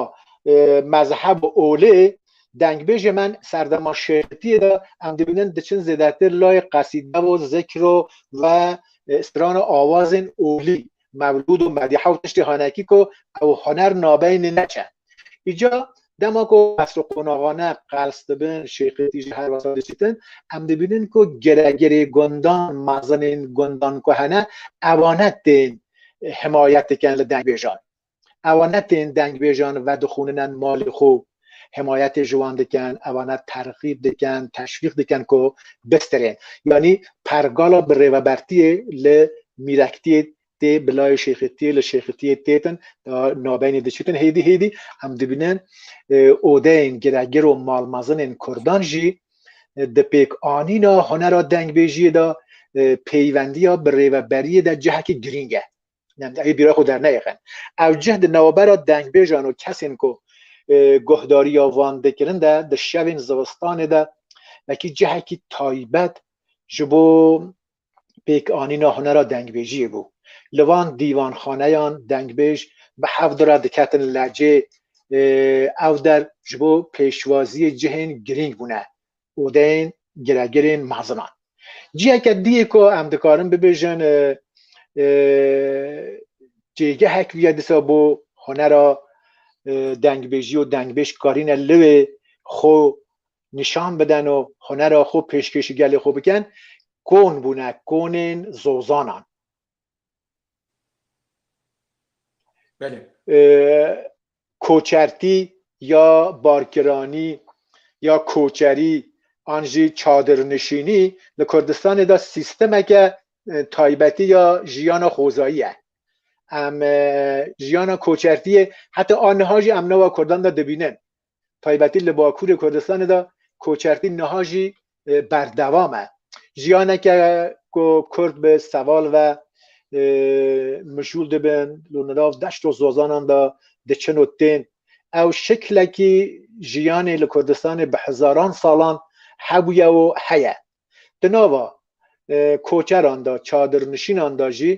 mezheb û olê dengbêjê men serdema şêxitiyê de em dibînin diçin zêdetir layê qesîde û zikr û ve strana awazên olî Mevlûd û Medîh ew tiştê hene kî ku ew huner nabeynî neçe. Îca dema ku qesr û qonaxane qels dibin, şêxiyetî jî her wesa diçitin, em dibînin ku giregerê gundan, mezinên gundan ku hene, ewane tên himayet dikin li dengbêjan. Ewa ne tên dengbêjan vedixûninen malê xwe û himayetê ji wan dikin, ewa ne terxîb dikin, teşvîq dikin ku bistirên. Yanî pergala bi rêvebertiyê li mîrektiyê tê bi layê şêxitiyê li şêxitiyê têtin nabeynê diçitin hêdî hêdî em dibînin odeyên giregir û malmezinên kurdan jî di pêkanîna hunera dengbêjiyê de peyvendiya bi rêveberiyê de cihekî girîng e. Ev bîra xwe derneyexin. Ew cih di navbera dengbêjan û kesên ku guhdariya van dikirin de di şevên zivistanê de wekî cihekî taybet ji bo pêkanîna hunera dengbêjiyê bû. Li van dîvanxaneyan dengbêj bi hevdu re diketin lacê ew der ji bo pêşwaziyê cihên girîng bûne. û dên giregirên mezinan. Ciheke diyê ku em dikarin bibêjin cêgehek bûye disa bo hunera dengbêjî û dengbêj karîne li wê xwe nîşan bidin û hunera xwe pêşkêşî gelê xwe bikin, kon bûne, konên zozanan. Belê. Koçertî ya barkiranî ya koçerî an jî çadirnişînî li Kurdistanê de sîstemeke taybetî ya jiyana xwezayî ye. Em jiyana koçertiyê heta aniha jî em newa Kurdan de dibînin. taybetî li Bakurê Kurdistanê de koçertî niha jî berdewam e. Jiyaneke ku Kurd bi seval ve mijûl dibin li nirav deşt û zozanan de diçin û tên ew şeklekî jiyanê li Kurdistanê bi hezaran salan hebûye û heye. Di nava koçeran de, çadirnişînan de jî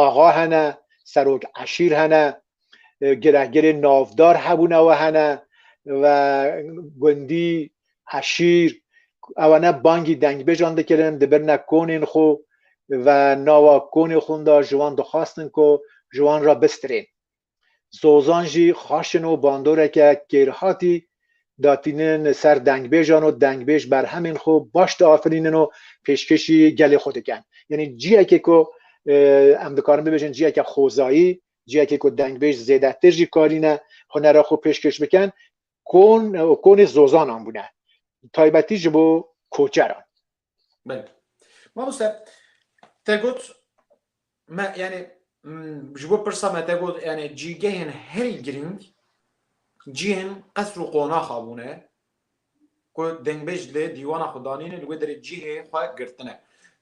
axa hene, serok eşîr hene, girehgirên navdar hebûne we hene ve gundî, eşîr ewe ne bangî dengbêjan dikirin, dibirine konên xwe ve nava konê xwe de ji wan dixwastin ku ji wan re bistirên. Zozan jî xaşin û bandoreke kêrhatî datînin ser dengbêjan û dengbêj berhemên xwe baş diafirînin û pêşkêşî gelê xwe dikin. Yanî ciyekê ku em dikarin bibêjin ciyeke xwezayî, ciyekê ku dengbêj zêdetir jî karîne hunera xwe pêşkêş bikin, kon û konê zozanan bûne. Taybetî ji bo koçeran. Belê. Mamoste te got me yani ji bo pirsa me te got yani cîgehên herî girîng cihên qesr û qonaxa bûne ku dengbêj lê dîwana xwe danîne li wê derê cihê xwe girtine.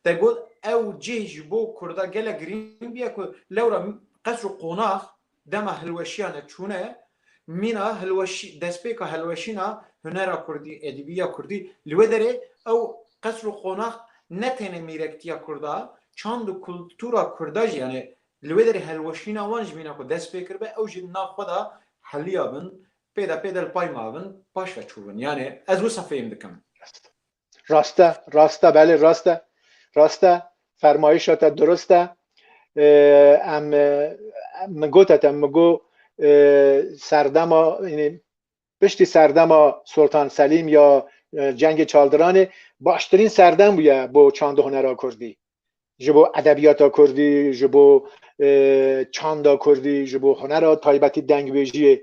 Te got ew cih ji bo Kurda gelek girîng bûye ku lewra qesr û qonax Dema hilweşiyane çûne mîna hilweşî destpêka hilweşîna hunera kurdî, edîbîya kurdî li wê derê ew qesr û qonax ne tenê mîrektîya kurda çand û kultura kurda jî yanê li wê derê hilweşîna wan ji mîna ku dest pê kiribe ew jî li nav xwe da heliya bin pê de pê de li pay ma bin paş ve çû bin yanê ez wisa fêm dikim. Rast e, rast e, belê rast e. Rast e, fermayişa te dirust e. Em min gote te min got serdema piştî serdema Soltan Selîm ya cengê çaldiranê baştirîn serdem bûye bo çandhunera kurdî. ji bo edebiyata Kurdî, ji bo çanda Kurdî, ji bo hunera taybetî dengvêjiyê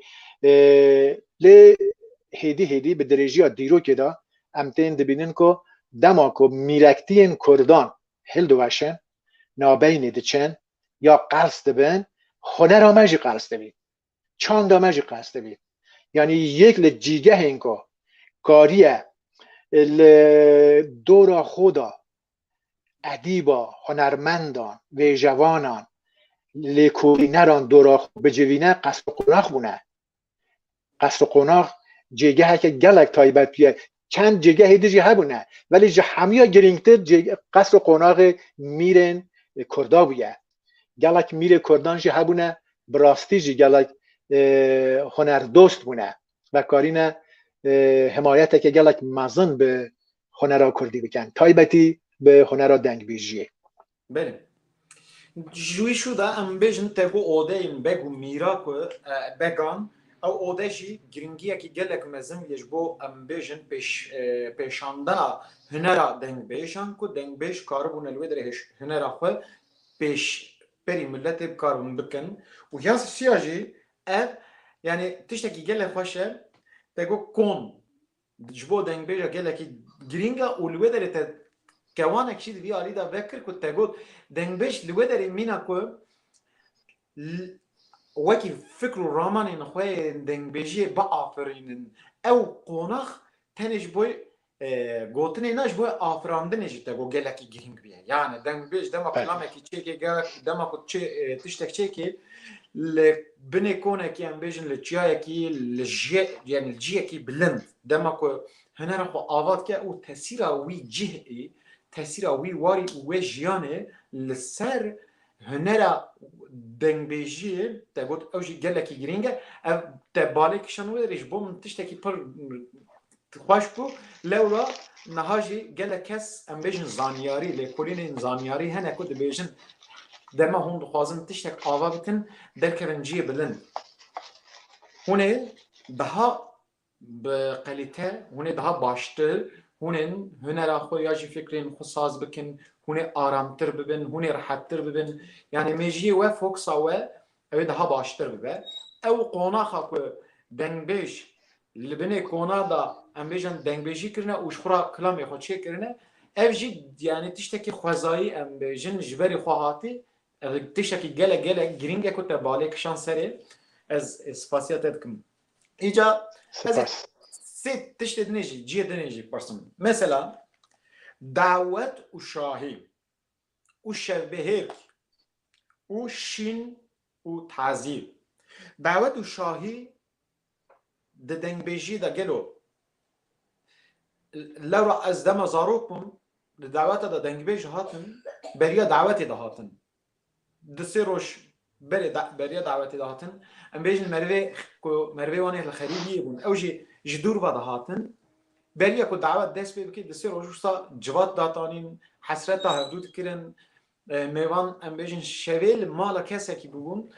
lê hêdî hêdî bi dirêjiya dîrokê de em tên dibînin ku dema ku mîrektiyên Kurdan hildiweşin, nabeynî diçin ya qels dibin, hunera me jî qels dibîn. çanda me jî qas dibî. Yanî yek li cîgehên ku kariye li dora xwe de edîba, hunermendan, vêjevanan, lêkolîneran dora xwe bicivîne qesr û qonax bûne. Qesr û qonax cêgeheke gelek taybet bûye. Çend cêgehê din jî hebûne belê ji hemûya girîngtir qesr û qonaxê mîrên Kurda bûye. Gelek mîrê Kurdan jî hebûne bi rastî jî gelek hunerdost bûne, vekarîne himayeteke gelek mezin bi hunera Kurdî bikin, taybetî bi hunera dengbêjiyê. Belê. Ji wî şû de em bêjin te ku odeyên beg û mîra ku began ew ode jî giringiyekî gelek mezin ye ji bo em bêjin pêşandana hunera dengbêjan ku dengbêj karibûne li wê derê hunera xwe pêş berî miletê bi kar bikin û ya siya jî ev yanî tiştekî gelek xweş e te got kom Ji bo dengbêje gelekî girîng e û li wê derê te kewanek jî di vî alî de vekir ku te got dengbêj li wê derê mîna ku wekî fikr û ramanên xwe yên dengbêjiyê biafirînin. Ew qonax tenê ji bo gotinê ne ji bo afirandinê jî te got gelekî girîng bûye. Yanê dengbêj dema ku namekî çêkê dema ku tiştek çêkê li Binê konekî em bêjin li çiyayekî li jî yanî li cîyekî bilind dema ku hunera xwe ava dike û tesîra wî cîh ê tesîra wî warî û wê jiyanê li ser hunera dengbêjîyê te got ew jî gelekî girîng e ev te balê kişand wê re jî bo min tiştekî pir Ti xweş bû. Lewra niha jî gelek kes em bêjin zanyarî, lêkolînên zanyarî hene ku dibêjin dema hûn dixwazin tiştek ava bikin derkevin ciyê bilind. Hûn ê daha bi qelîte, hûn ê daha baştir, hûn ên hunera xwe ya jî fikrên xwe saz bikin, hûn ê aramtir bibin, hûn ê rehettir bibin. Yanî mêjiyê we, foksa we Ew ê daha baştir bibe. Ew qonaxa ku dengbêj li binê kona da em bêjin dengbêjî kirine û ji xwe re kilamê xwe çê kirine, ev jî yanî tiştekî xwezayî em bêjin ji berî xwe hatî, ev tiştekî gelek gelek girîng e ku te balê kişand serê. Ez spasiya te dikim. Îca ez ê sê tiştê din ê jî cihê din ê jî pirsim. Mesela dawet û şahî. û şevbehêk û şîn û tazî. Dawet û şahî di dengbêjiyê de gelo lewra ez dema zarok bûm di daweta de dengbêj hatin beriya dawetê de hatin. Du sê roj Berê beriya dawetê de hatin. Em bêjin merivê ku merivê wan ê li xerîbiyê bûn. Ew jî ji dûr ve de hatin. Beriya ku dawet dest pê bike di sê roj wisa civat datanîn, hesreta hevdû dikirin. Mêvan em bêjin şevê li mala kesekî bûbûn.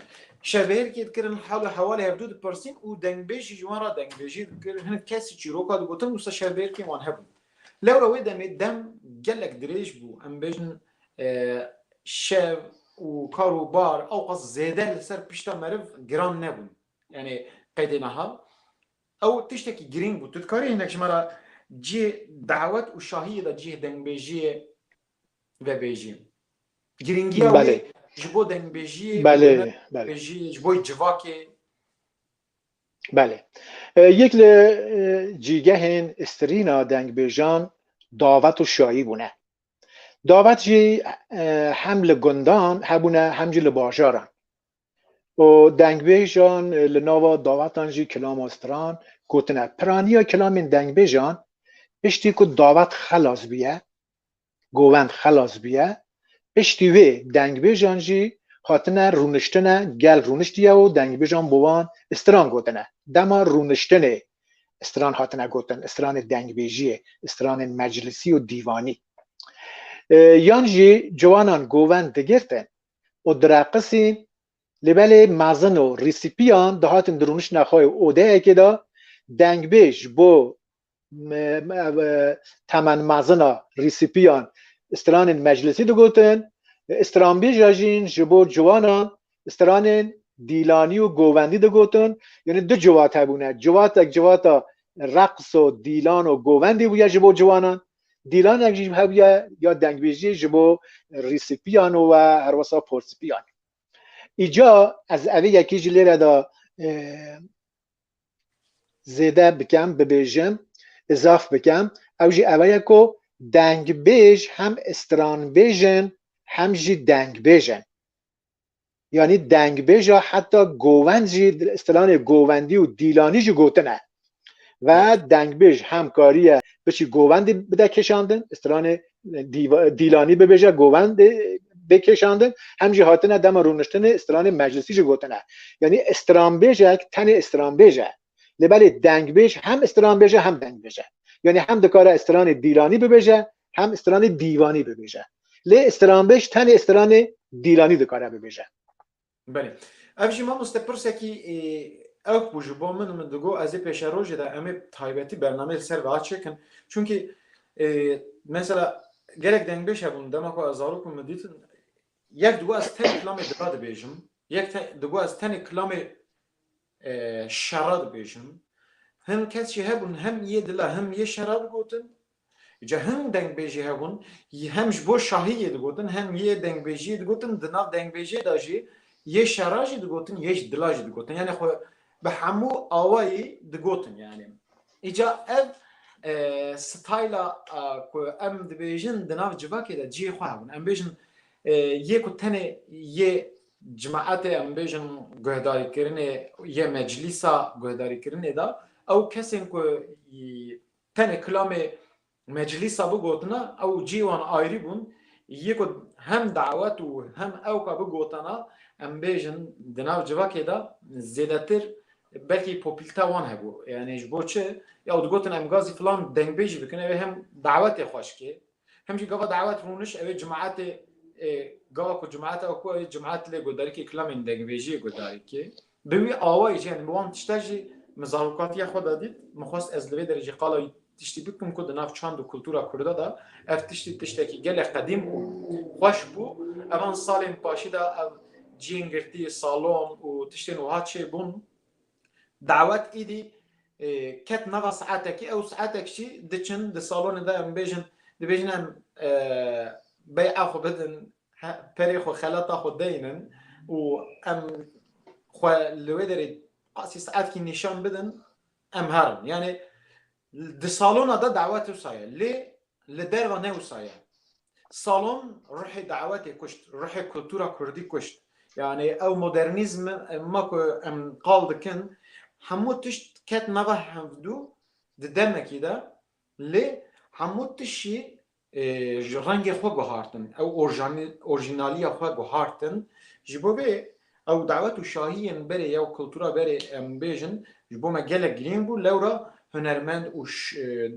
Şevbihêrkê dikirin, hal û hewalê hevdû dipirsîn û dengbêj jî ji wan re dengbêjî dikir. Hinek kesî çîroka digotin wisa şevbihêrkên wan hebûn. Lewra wê demê dem gelek dirêj bû. Em bêjin Şev û kar û bar ewqas zêde li ser pişta meriv giran nebûn. Yanî qedê niha ew tiştekî girîng bû. Tu dikarî hinek ji me re cih dawet û şahiyê de cih dengbêjiyê vebêjî? Girîngiya wê ji bo dengbêjiyê û dengbêjiyê ji bo civakê? Belê. Yek li cîgehên strîna dengbêjan dawet û şahî bûne. Davet jî hem li gundan hebûne hem jî li bajaran û dengbêjan li nava dawetan jî kilama stran gotine. Piraniya kilamên dengbêjan piştî ku davet xelas bûye, govend xelas bûye, piştî wê dengbêjan jî hatine rûniştine, gel rûniştiye û dengbêjan bi wan stran gotine. Dema rûniştinê Stran hatine gotin, stranê dengbêjiyê, stranên meclisî û dîvanî. Yan jî ciwanan govend digirtin û direqisîn lê belê mezin û rîsîpiyan dihatin dirûnişna xwe û odeyekê de dengbêj ji bo temen mezina rîsîpiyan stranên meclisî digotin, stranbêj jîn ji bo ciwanan stranên dîlanî û govendî digotin yanî du ciwat hebûne ciwatek ciwata reqs û dîlan û govendî bûye ji bo ciwanan dîlanek jî hebûye ya dengbêjî ji bo rîsîpiyan û we herwesa porsipiyan îca ez evê yekî jî lêre de zêde bikem bibêjim izaf bikem ew jî ewe ye ku dengbêj hem stranbêjin hem jî dengbêjin yanî dengbêja heta govend jî stilanê govendî û dîlanî jî gotine ve dengbêj hem kariye biçî govendî bide kêşandin stilanê dîlanî bibêje govendê bê kêşandin hem jî hatine dema rûniştinê stilanê meclisî jî gotine yanî stranbêjek tenê stranbêje lê belê dengbêj hem stranbêje hem dengbêje yanî hem dikare stranê dîlanî bibêje hem stranê dîvanî bibêje. Lê stranbêj tenê stranê dîlanî dikare bibêje. Belê. Ev jî mamoste pirsekî ewk bû ji bo min min digo ez ê pêşerojê de em ê taybetî bernameyê li ser vê a çêkin. Çunkî mesela gelek dengbêj hebûn dema ku ez zarok bûm min dîtin yek digo ez tenê kilamê dira dibêjim, yek digo ez tenê kilamê şera dibêjin. Hin kes jî hebûn hem yê dila hem yê şera digotin. Ca hin dengbêjî hebûn hem ji bo şahî yê digotin hem yê dengbêjî yê digotin. Di nav dengbêjê de jî yê şera jî digotin yê ji dila jî digotin. Yanî xwe bi hemû awayî digotin yanî. Îca ev stayla ku em dibêjin di nav civakê de cihê xwe hebûn. Em bêjin yê ku tenê yê Cemaetê em bêjin guhdarîkirinê yê meclîsa guhdarîkirinê de ew kesên ku tenê kilamê meclîsa bigotine ew cî wan ayrî bûn yê ku hem dawet û hem ew ka bigotana em bêjin di nav civakê de zêdetir belkî popîlte wan hebû. Yanî ji bo çi? Ew digotin em gazî filan dengbêjî bikin ew ê hem dawetê xweş kê Hem jî gava dawet rûniş ew ê cimatê ê gava ku cimat ew ku ew ê cimat lê guhdarîkê kilamên dengvêjî yê guhdarîkê bi wî awayî jî yani bi wan tişta jî min zarokatiya xwe de dît min xwest ez li vê derê jî qala wî tiştî bikim ku di nav çand û kultura kurda de ev tiştî tiştekî gelek qedîm û xweş bû evan salên paşî de ev ciyên girtî salon û tiştên wiha çêbûn. Dawet êdî ket nava saetekî ew saetek jî diçin di salonê de em bêjin dibêjin em bey'a xwe bidin perê xwe xelata xwe deynin û em xwe li wê derê qasî saetkî nîşan bidin em herin. Yanê Di salona de dawet wisa ye lê li derve ne wisa ye. Salon ruhê dawetê kuşt, ruhê kultura kurdî kuşt. Yanî ew modernîzm ma ku em qal dikin hemû tişt ket nava hevdû di demekî de lê hemû tişt jî Ji rengê xwe guhartin. Ew orjînaliya xwe guhartin. Ji bo vê ew dawet û şahiyên berê ya û kultura berê em bêjin ji bo me gelek girîng bû. Lewra hunermend û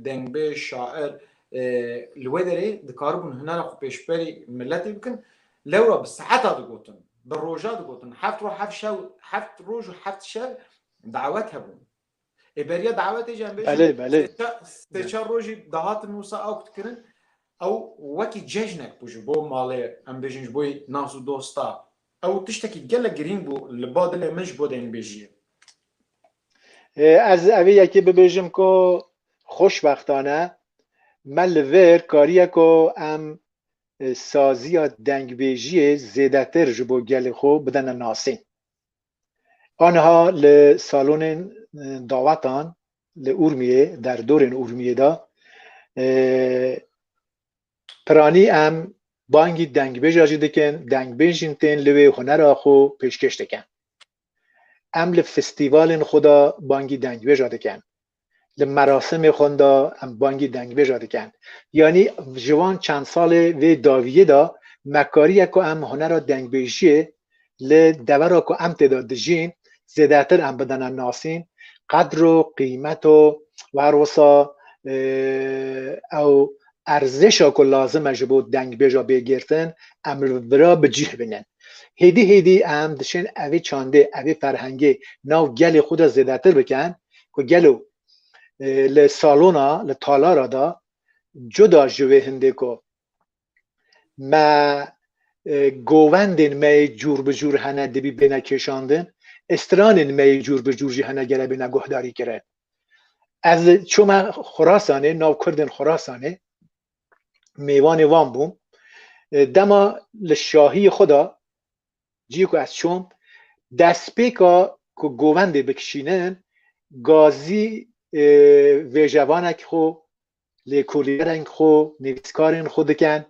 dengbêj, şair li wê derê dikaribûn hunera xwe pêşberî miletê bikin. Lewra bi saeta digotin, bi roja digotin. Heft roj heft şev, heft roj û heft şev dawet hebûn. Ê beriya dawetê jî em bêjin. Belê, belê. Sê çar rojî dahatin wisa ew kirin ew wekî cejnek bû ji bo malê em bêjin ji bo nas û dosta. Ew tiştekî gelek girîng bû li ba dilê min ji bo deynbêjiyê. Ez evê yekê bibêjim ku xoşbextane me li vir kariye ku em saziya dengbêjiyê zêdetir ji bo gelê xwe bidene nasîn. Aniha li salonên dawetan li Urmiyê, derdorên Urmiyê de piranî em bangî dengbêja jî dikin, dengbêj jîn tên li wê hunera xwe pêşkêş dikin. Em li festîvalên xwe de bangî dengbêja dikin. Li merasimê xwe de em bangî dengbêja dikin. Yanî ji van çend salê vê daviyê de me kariye ku em hunera dengbêjiyê li devera ku em tê de dijîn zêdetir em bidine nasîn, qedr û qîmet û her wisa ew erzêşa ku lazim e ji bo dengbêja bê girtin em li vir a bi cîh bînin. Hêdî hêdî em diçin evê çandê, evê ferhengê nav gelê xwe de zêdetir bikin. ku gelo li salona li talara de cuda ji wê hindê ku me govendên me yê cûr bi cûr hene dibî bêne kêşandin, ê stranên me yê cûr bi cûr jî hene gere bêne guhdarîkirin. Ez çûme Xurasanê, nav Kurdên Xurasanê, mêvanê wan bûm. Dema li şahiyê xwe de Ciyê ku ez çûm, destpêka ku govendê bikişînin, gazî vêjevanekî xwe, lêkolînerên xwe, nivîskarên xwe dikin,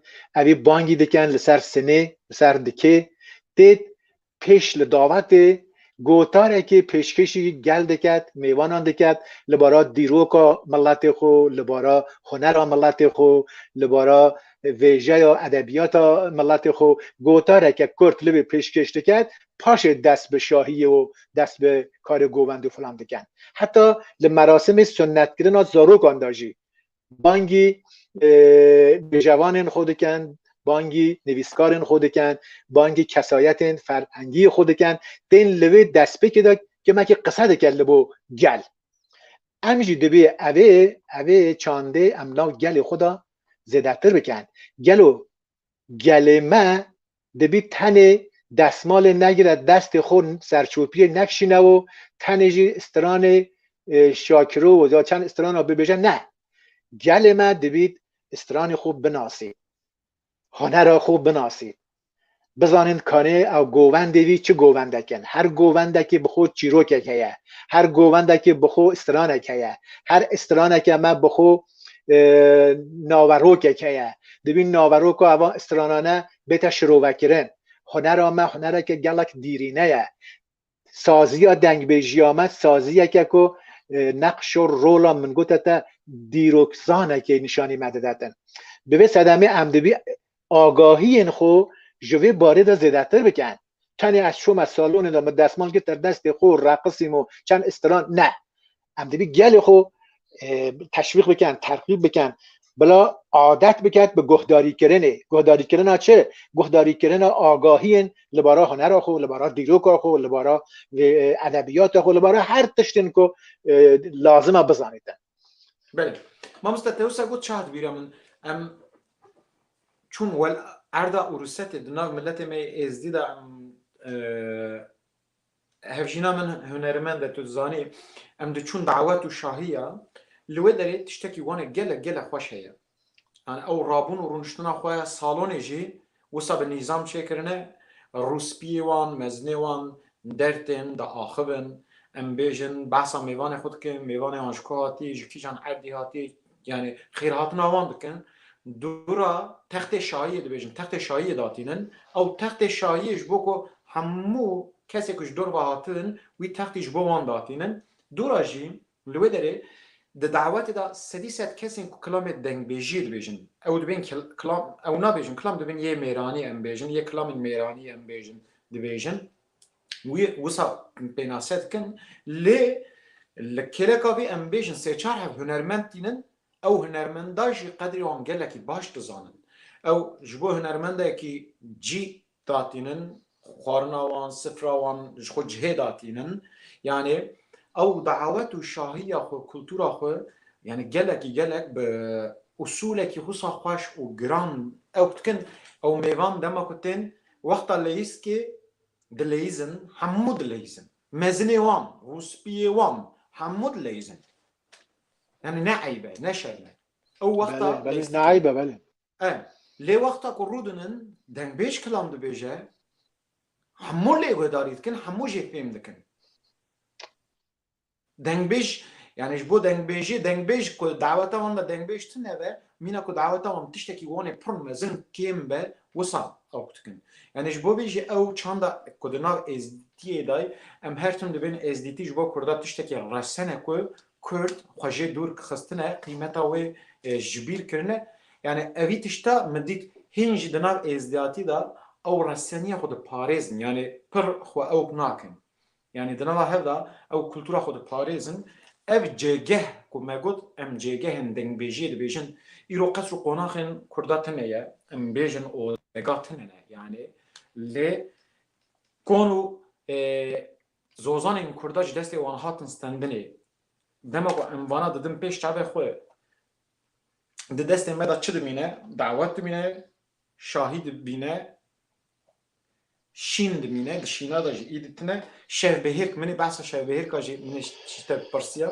evî bangî dikin li ser sinê, li ser dikê, têt pêş li davetê Gotarekê pêşkêşî gel diket, mêwanan diket li bara dîroka miletê xwe, li bara hunera miletê xwe, li bara vêjeya edebiyata miletê xwe. Gotareke kurt li wê pêşkêş diket, paşê dest bi şahiyê û dest bi karê govend û filan diken. Heta li merasimê sunnetkirina zarokan de jî bangî bêjevanên xwe dikin bangî nivîskarên xwe dikin bangî kesayetên ferhengî xwe dikin tên li vê destpêkê de kemekî qise dike li bo gel em jî dibê evê evê çandê em nav gelê xwe de zêdetir bikin gelo gelê me dibî tenê destmalê negire destê xwe û serçopiyê nekişîne û tenê jî stranê şakiro û ya çend strana bibêje ne. Gelê me dibî stranê xwe binasî, hunera xwe binasî, bizanîn kanê ew govendê vî çi govendek in. Her govendekê bi xwe çîrokek heye, her govendekê bi xwe stranek heye, her straneke me bi xwe naverokek heye dibî naveroka eva stranane bête şirovekirin hunera me hunereke gelek dîrîne ye saziya dengbêjiya me saziyeke ku neqşo rola min gote te dîrokzanekê nîşanî me didetin bi vê sedemê em dibî agahiyên xwe ji vê barê de zêdetir bikin. Tenê ez çûme salonê de min desmal girte destê xwe û reqisîm û çend istiran ne. Em dibî gelê xwe teşwîq bikin, terxîb bikin bila adet biket bi guhdarîkirinê. Guhdarîkirina çi? Guhdarîkirina agahiyên li bara hunera xwe, li bara dîroka xwe, li bara edebiyata xwe, li bara her tiştên ku lazim e bizanîtin. Belê. Mamoste te wisa got çihat bîra min em çûn wel erda û rusetê di nav miletê me êzdî de em e, hevjîna min hunermend e tu zanî em diçûn dawet û şahiya li wê derê tiştekî wan e gelek gelek xweş heye Yani ew rabûn û rûniştina xwe ya salonê jî wisa bi nîzam çêkirine, rûspiyê wan, mezinê wan der tên de axivin. Em bêjin behsa mêvanê xwe dikin, mêvanê wan ji ku hatiye, ji kîjan erdê hatiye, yani xêrhatina wan dikin. Dûra textê şahiyê dibêjin, textê şahiyê datînin. Ew textê şahiyê ji bo ku hemû kesê ku ji dor ve hatibin wî textî ji bo wan datînin. Dûra jî Li wê derê di dawetê de sedî sed kesên ku kilamê dengbêjiyê dibêjin ew dibên kilam ew nabêjin kilam dibin yê mêranî em bêjin yê kilamên mêranî em bêjin dibêjin wî wisa pênase dikin lê li kêleka vê em bêjin sê çar hev hunermend tînin ew hunermenda jî qedrê wan gelekî baş dizanin ew ji bo hunermendekî cî da tînin, xwarina wan, sifra wan ji xwe cihê da tînin. Yanî ew dawet û şahiya xwe, kultura xwe yanî gelekî gelek bi usulekî wisa xweş û giran ew dikin. Ew mêvan dema ku tên wexta leyîzkê dileyîzin, hemû dileyîzin. Mezinê wan, rûspiyê wan hemû dileyîzin. Yanî ne eyb e, ne şerm e. Ew wexta leyîzkê. Belê belê ne eyb e belê. E, lê wexta ku rû dinin, dengbêj kilam dibêje, hemû lê guhdarî dikin, hemû jê fêm dikin. Dengbêj, yanî ji bo dengbêjê, dengbêj ku daweta wan de dengbêj tune be, mîna ku daweta wan tiştekî wanê pir mezin kêm be, wisa ew dikin. Yanî ji bo vê jî ew çanda ku di nav êzdîtiyê de ye, em her tim dibêjin êzdîtî ji bo kurda tiştekî resene ku Kurd xwe jê dûr xistine qîmeta wê ji bîr kirine yanî evî tişta min dît hîn jî di nav êzdiyatî de ew reseniya xwe diparêzin yanî pir xwe ewk nakin yanî di nava hev de ew kultura xwe diparêzin ev cêgeh ku me got em cêgehên dengbêjiyê dibêjin îro qesr û qonaxên kurda tune ye em bêjin ozega tune ne yanî lê kon û Zozanên Kurda ji destê wan hatin stendinê. Dema ku em vana didin pêş çavê xwe, di destên me de çi dimîne? Dawet dimîne, şahî dimîne, şîn dimîne, di şîna de jî îdî tune, şevbihêrk, min ê behsa şevbihêrka jî min ê ji te pirsiya,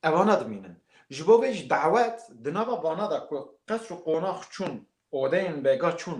evana dimînin. Ji bo vê jî dawet di nava vana de ku qesr û qonax çûn, odeyên bega çûn,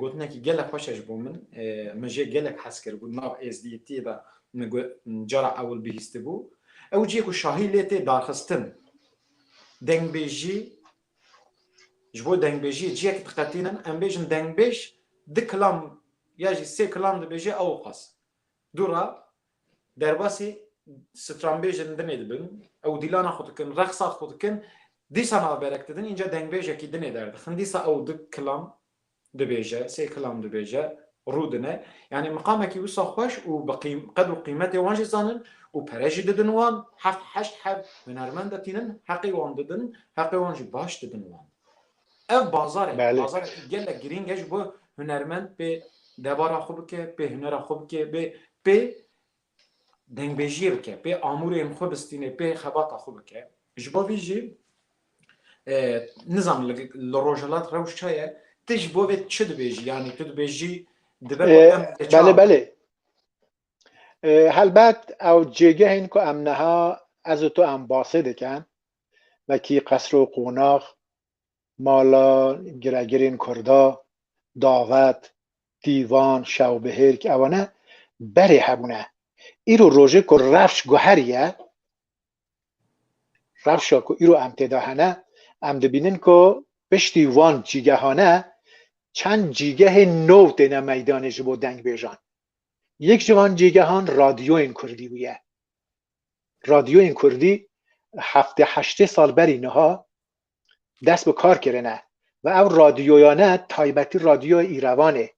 Gotinekî gelek xweş e ji bo min. Min jê gelek hez kiribû. Di nav êzdiyîtiyê de min cara ewil bihîstibû. Ew cihê ku şahî lê tê darxistin. Dengbêjî, ji bo dengbêjiyê cihek diqetînin, em bêjin dengbêj du kilam ya jî sê kilam dibêje ew qas. Dû re Derbasî stranbêjên dinê dibin, ew dîlana xwe dikin, rexsat xwe dikin, dîsa navberek didin, înca dengbêjekî dinê derdixin, dîsa ew du kilam dibêje, sê kilam dibêje, rû dine. Yanî miqamekî wisa xweş û bi qîm, qed û qîmetê wan jî zanin û pere jî didin wan, heft heşt heb hunermend de tînin, heqê wan didin, heqê wan jî baş didin wan. Ev bazar e. Bazar e gelek girîng e ji bo hunermend pê debara xwe bike, pê hunera xwe bike, bê pê dengbêjiyê bike, pê amûrên xwe bistîne, pê xebata xwe bike. Ji bo vî jî nizan li Rojhilat rewş çi ye? Ti ji bo vê çi dibêjî? Yanî tu dibêjî dibe Belê belê. Helbet ew cêgehên ku em niha ez û tu em basê dikin wekî qesr û qonax, mala giregirên kurda, davet, dîvan, şewbihêrk ew ne berê hebûne. Îro rojê ku rewş guheriye, rewşa ku îro em têda hene, em dibînin ku piştî wan cîgehane çend cîgehê nû têne meydanê ji bo dengbêjan. Yek ji van cîgehan radyoyên kurdî bûye. radyoyên kurdî heftê heştê sal berî niha dest bi kar kirine ve ew radyoyane taybetî radyoya Îrevanê,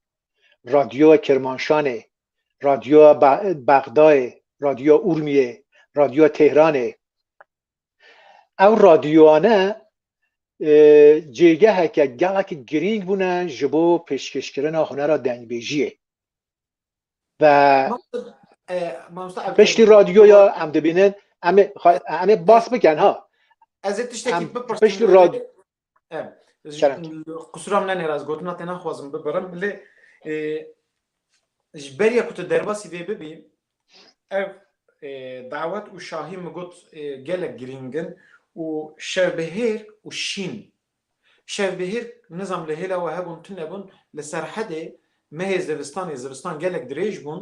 radyoya Kirmanşanê, radyoya Bexdayê, radyoya Urmiyê, radyoya Tehranê ew radyoyane cêgeheke gelekî girîng bûne ji bo pêşkêşkirina hunera dengbêjiyê. ve piştî radyoya em dibînin em em ê bas bikin ha Ez ê tiştekî piştî radyo Qusura min nêraz gotina te naxwazim bibirim lê ji beriya ku tu derbasî vê bibî ev dawet û şahî min got gelek girîngin û şevbihêr û şîn Şev bi hêr nizam li hêla we hebûn tune bûn, li Serhedê mehê zivistanê, zivistan gelek dirêj bûn,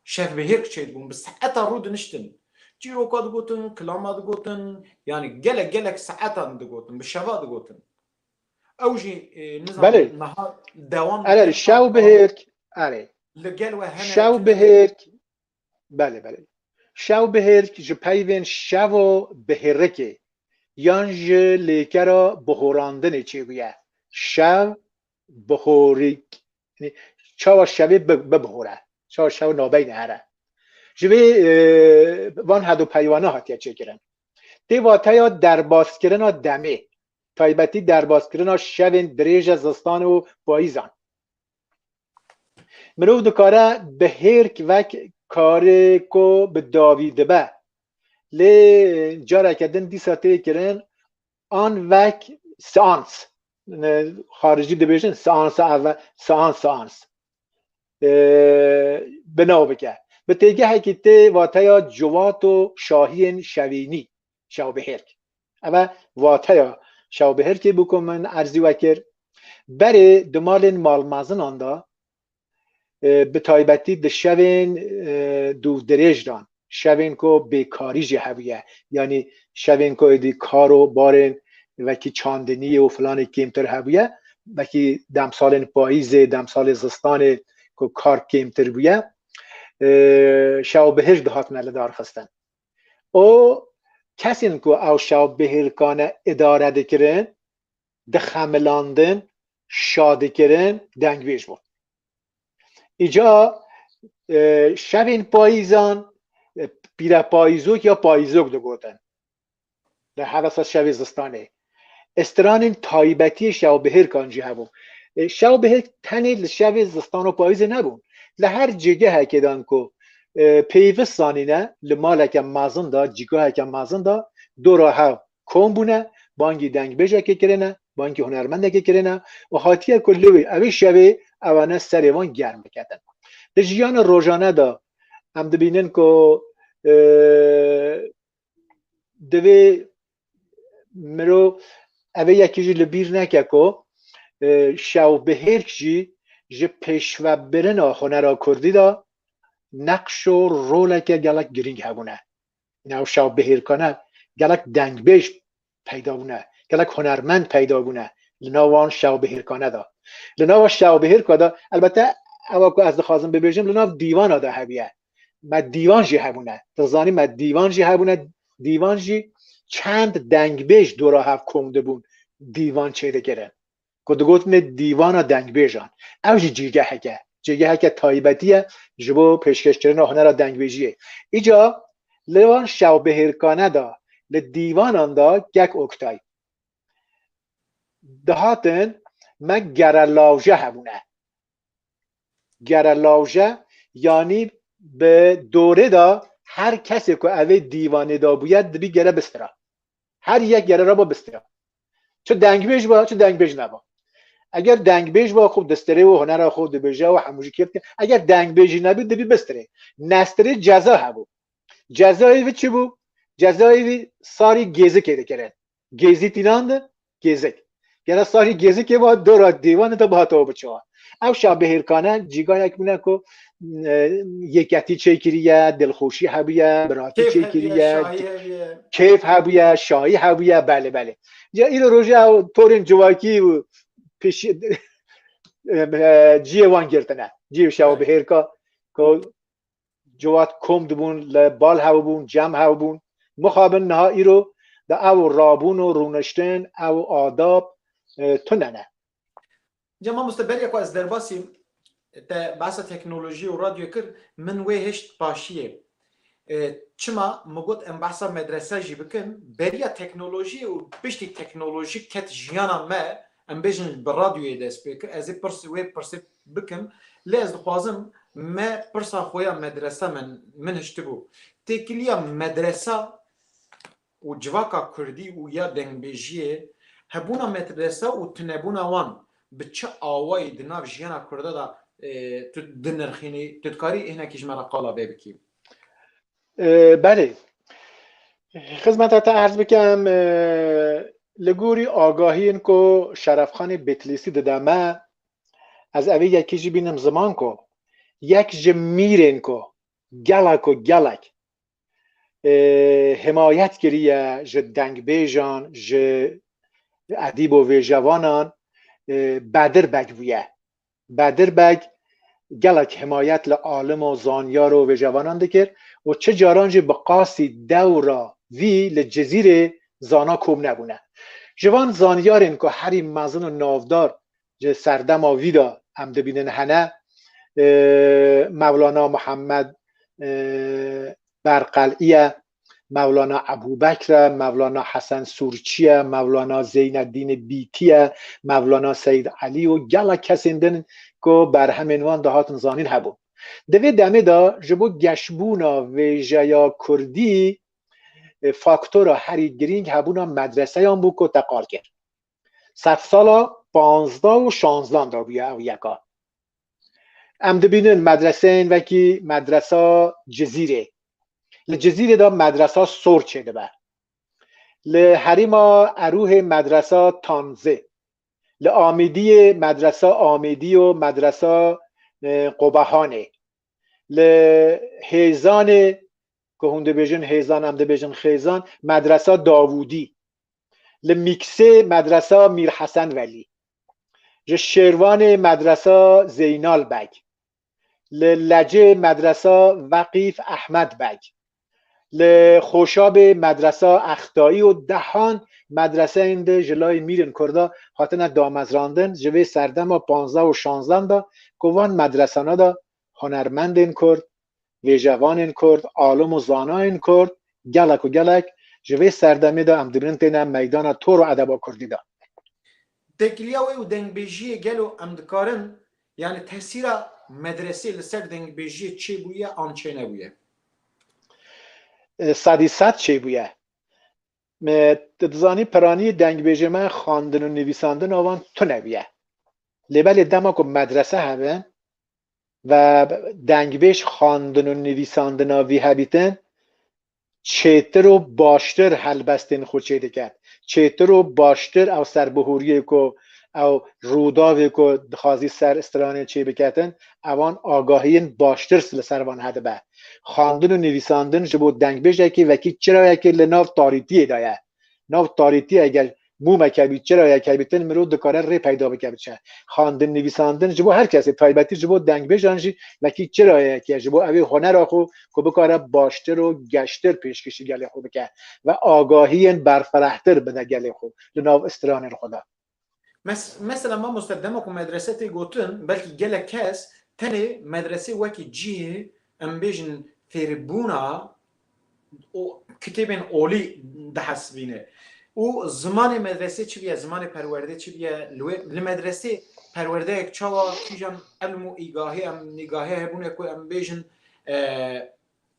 şev bi hêr kiçey dibûn, bi saeta rû diniştin, çîroka digotin, kilama digotin, yanî gelek gelek saetan digotin, bi şeva digotin. Ew jî nizam niha dewam dike. Erê, şew bi hêrk, erê. Li gel we hene. Şew bi hêrk, Belê belê. Şewbihêrk ji peyvên şeva bihêrikê yan ji lêkera bihorandinê çêbûye. Şev bihorîk çawa şevê bibihore, çawa şew nabeyne here. Ji vê van hedo peyvana hatiye çêkirin. Tê vateya derbaskirina demê, taybetî derbaskirina şevên dirêje zistan û payîzan. Mirov dikare bi hêrk vek karê ku bi dawî dibe. Lê careke din dîsa tê kirin an vek seans. Xarijî dibêjin seansa ev seans seans. Binaw bike. Bi têgehekî tê wateya ciwato şahiyên şevînî. şewbihêrk. Eve wateya şewbihêrkê bû ku min erzî we kir. Berê di malên malmezinan de bi taybetî di şevên dûvdirêj de şevên ku bêkarî jî hebûye yanî şevên ku êdî kar û barên vekî çandinî û filanê kêmtir hebûye vekî demsalên payîzê demsalê zistanê ku kar kêmtir bûye şewbihêrk dihatine lidarxistin. û kesên ku ew şewbihêlkane îdare dikirin, dixemilandin, şa dikirin, dengvêj bûn. Îca şevên payîzan pîrepayîzok ya payîzok digotin. Di hevesa şevê zistanê stranên taybetiyê şewbihêrkan jî hebûn. Şewbihêrk tenê li şevê zistan û payîzê nebûn. Li her cîgehekê de anko pêyvist zanîne li maleke mezin de, cîgaheke mezin de du re hev kom bûne, bangî dengbêjekê kirine, bangî hunermendekê kirine û hatiye ku li wê ew ê şevê ewane serê wan germ biketin. Di jiyana rojane de em dibînin ku divê miro evê yekî jî li bîr neke ku e, şewbihêrk jî ji pêşvebirina hunera kurdî de neqş û roleke gelek girîng hebûne. Nav şewbihêrkane gelek dengbêj peyda bûne, gelek hunermend peyda bûne li nav wan şewbihêrkane de. Li nava şewbihêrka de elbette ewa ku ez dixwazim bibêjim li nav dîvana de hebûye. Me dîvan jî hebûne. Tu dizanî me dîvan jî hebûne. Dîvan jî çend dengbêj dora hev kom dibûn dîvan çêdikirin. ku digotinê Dîvana Dengbêjan. Ew jî cîgehek e. Cîgeheke taybetî ye ji bo pêşkêşkirina hunera dengbêjiyê. Îca li van şewbihêrkane de li dîvanan de kek Oktay. Dihatin me gere lawje hebûne. Gere lawje yanî bi dorê de her kesê ku evê dîvanê de bûye dibî gere bistira. Her yek yere re ba bisteya. Çi dengbêj ba, çi dengbêj neba. Eger dengbêj ba xû distirê û hunera xû dibêje û hemû jî kêf dikin. Eger dengbêjî nebî dibî bistirê. Nestirê ceza hebû. Cezayê vî çi bû? Cezayê vî sarî gêzikê dikirin. Gêzî tînan di, gêzik. Gera sarî gezikê va dora dêvanê de bihatawa biçawa. Ew şabihêrkane cîgayek bûne ku yeketî çêkiriye, dilxoşî hebûye, biratî çêkiriye, kêf hebûye, şayî hebûye, belê belê. Ya îro roje ew torên civakî û pêşî ciyê wan girtine. Ciyê şabihêrka ku ciwat kom dibûn li bal hewibûn cem hewibûn mixabin niha îro di ew rabûn û rûniştin ew adab tune ne. Ca mamoste beriya ku ez derbasî te behsa teknolojî û radyoyê kir min wê hişt paşiyê çima min got em behsa medrese jî bikin beriya teknolojî û piştî teknolojî ket jiyana me Em bêjin bi radyoyê dest pê kir, ez ê pirs wê pirsê bikim, lê ez dixwazim me pirsa xwe ya medresa me min hiştibû. Têkiliya medresa û civaka kurdî û ya dengbêjiyê, hebûna medresa û tunebûna wan bi çi awayî di nav jiyana kurda de tu dinirxînî? Tu dikarî hinekî ji me re qala vê bikî? Belê. Xizmeta te erz bikem li gorî agahiyên ku Şerefxanê Bêtilîsî dide me ez evê yekê jî bînim ziman ku yek ji mîrên ku gela ku gelek himayet kiriye ji dengbêjan ji edîb û vêjevanan Bedir Beg bûye. Bedir Beg gelek himayet li alim û zanyar û wêjevanan dikir û çi caran jî bi qasî dewra vî li Cizîrê zana kom nebûne. Ji van zanyarên ku herî mezin û navdar ji serdema vî de em dibînin hene, Mevlana Muhammed Berqel'î ye, Mevlana Ebûbekr e, Mevlana Hesen Sûrçî ye, Mevlana Zeyneddînê Bîtî ye, Mevlana Seyîd Elî û gelek kesên din ku berhemên wan dihatin zanîn hebûn. Di vê demê de ji bo geşbûna vêjeya kurdî faktora herî girîng hebûna medreseyan bû ku teqal kir. Sedsala panzda û şanzdan de bûye ew yeka. Em dibînin medreseyên vekî medresa Cizîrê. Li Cizîrê de medresa sor çêdibe. Li herêma Erûhê medresa Tanzê. Li Amêdiyê medresa Amêdî û medresa Qobehanê. Li Hêzanê ku hûn dibêjin Hêzan em dibêjin Xêzan medresa Davûdî. li Mîksê Medresa Mîr Hesen Velî, ji Şêrwanê Medresa Zeynal Beg, li Lecê Medresa Veqîf Ehmed Beg, li Xoşabê Medresa Extayî û dehan medreseyên di ji layê mîrên Kurda hatine damezrandin ji vê serdema panzdeh û şanzdan de ku van medresana de hunermendên Kurd vêjevanên Kurd, alim û zanayên Kurd gelek û gelek ji vê serdemê de em dibînin têne meydana tor û edeba Kurdî de. Tekiliya wê û dengbêjiyê gelo em dikarin yanî tesîra medresê li ser dengbêjiyê çêbûye an çênebûye? Sedî sed çêbûye. Tu dizanî piranî dengbêjê me xwendin û nivîsandina wan tunebûye. Lê belê dema ku medrese hebin ve dengbêj xwendin û nivîsandina vî hebîtin çêtir û baştir helbestên xwe çêdiket. Çêtir û baştir ew serbihûriyê ku ew rûdavê ku dixwazî ser stranê çêbiketin ewan agahiyên baştir li ser van hedibe. Xwendin û nivîsandin ji bo dengbêjekî wekî çirayekî li nav tarîtiyê de ye. Nav tarîtiyê gel mûmeke bî, çirayeke bî, tin mirov dikare rê peyda bike biçe. Xwendin, nivîsandin ji bo her kesê, taybetî ji bo dengbêjan jî wekî çirayeyek e ji bo ew ê hunera xwe ku bikare baştir û geştir pêşkêşî gelê xwe bike ve agahiyên berfirehtir bide gelê xwe li nav stranên xwe de. Mes, mesela mamoste dema ku medrese tê gotin, belkî gelek kes tenê medresê wekî cîh, em bêjin fêrbûna o kitêbên olî dihesibîne. Û zimanê medresê çi biye, zimanê perwerdê çi biye, li wê li medresê perwerdeyek çawa kîjan elm û îgahê em nîgahê hebûne ku em bêjin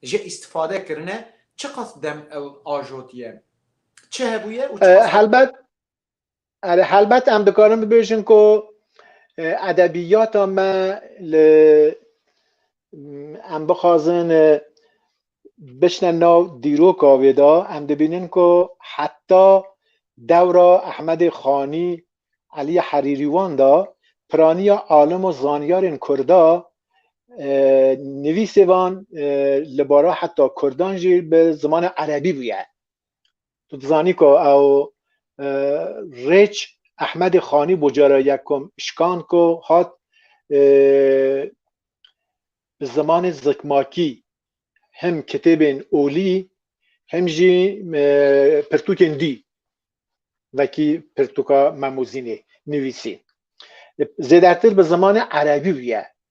ji îstifade kirine, çiqas dem ew ajotiye? Çi hebûye û çiqas Helbet Erê helbet em dikarin bibêjin ku edebiyata me li em bixwazin biçine nav dîroka wê de em dibînin ku heta dewra Ehmedê Xanî, Eliyê Herîrî wan de piraniya alim û zanyarên Kurda nivîsê van li bara heta Kurdan jî bi zimanê Erebî bûye. Tu dizanî ku ew Rêç Ehmedê Xanî bû cara yekum şikan ku hat bi zimanê zikmakî hem kitêbên olî hem jî pirtûkên dî wekî pirtûka Memûzînê nivîsî. Zêdetir bi zimanê erebî bûye.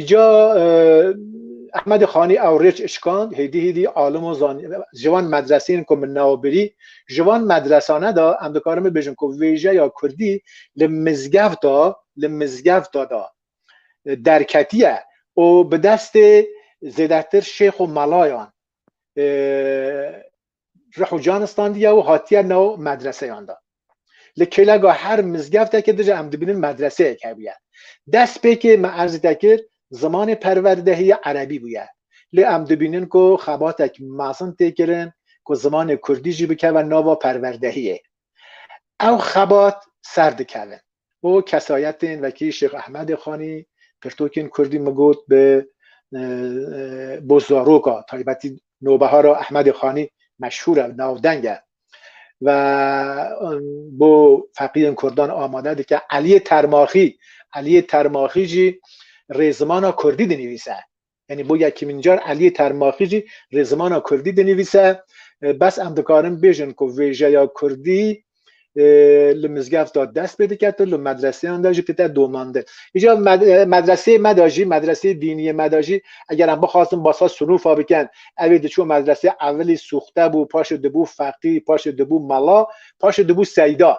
Îca Ehmedê Xanî ew rêç işkand, hêdî hêdî alimo zanî ji van medreseyên ku min navbirî, ji van medresane de em dikarin bibêjin ku vêjeya Kurdî li mizgevta li mizgevta de derketiye û bi destê zêdetir şêx û melayan rih û can standiye û hatiye nav medreseyan de. Li kêleka her mizgevtekê de jî em dibînin medreseyek hebûye. Destpêkê me erzê te kir zimanê perwerdehî ya erebî bûye. Lê em dibînin ku xebatek mezin tê kirin ku zimanê kurdî jî bikeve nava perwerdehiyê. Ew xebat serdikevin. û kesayetên wekî Şêx Ehmedê Xanî pirtûkên kurdî migot bi bo zaroka taybetî Nobehara Ehmedê Xanî meşhûr e, navdeng e ve bo feqîyên kurdan amade dike. Eliyê Termaxî, Eliyê Termaxî jî rêzimana kurdî dinivîse. Yanî bo yekîmîn car Eliyê Termaxî jî rê zimana kurdî dinivîse. Bes em dikarin bêjin ku vêjeya kurdî li mizgev de dest pê diket û li medreseyan de jî dite domandin. Îja medreseyê me de jî medreseyê dîniyê me de jî eger em bixwazin basa sinûfa bikin evê diçû medresê evilî sûxte bû paşê dibû feqî paşê dibû mela paşê dibû seyda.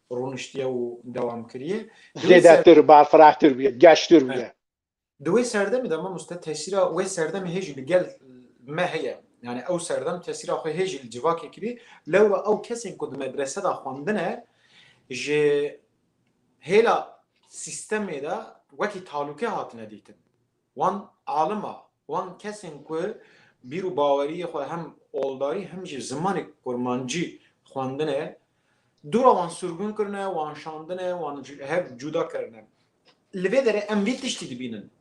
rûniştiye û dewam kiriye. Zêdetir, balfirahtir bûye, geştir bûye. Di wê serdemê de mamoste tesîra wê serdemê hê jî li gel me heye. Yani ew serdem tesîra xwe hê jî li civakê kirî. Lewra ew kesên ku di medrese de xwendine ji hêla sîstemê de wekî talûke hatine dîtin. Wan alima, wan kesên ku bîr û baweriyê xwe hem oldarî hem jî zimanê kurmancî xwendine, dora wan surgun kirine, wan şandine, wan ji hev cuda kirine. Li vê derê em vê tiştî dibînin.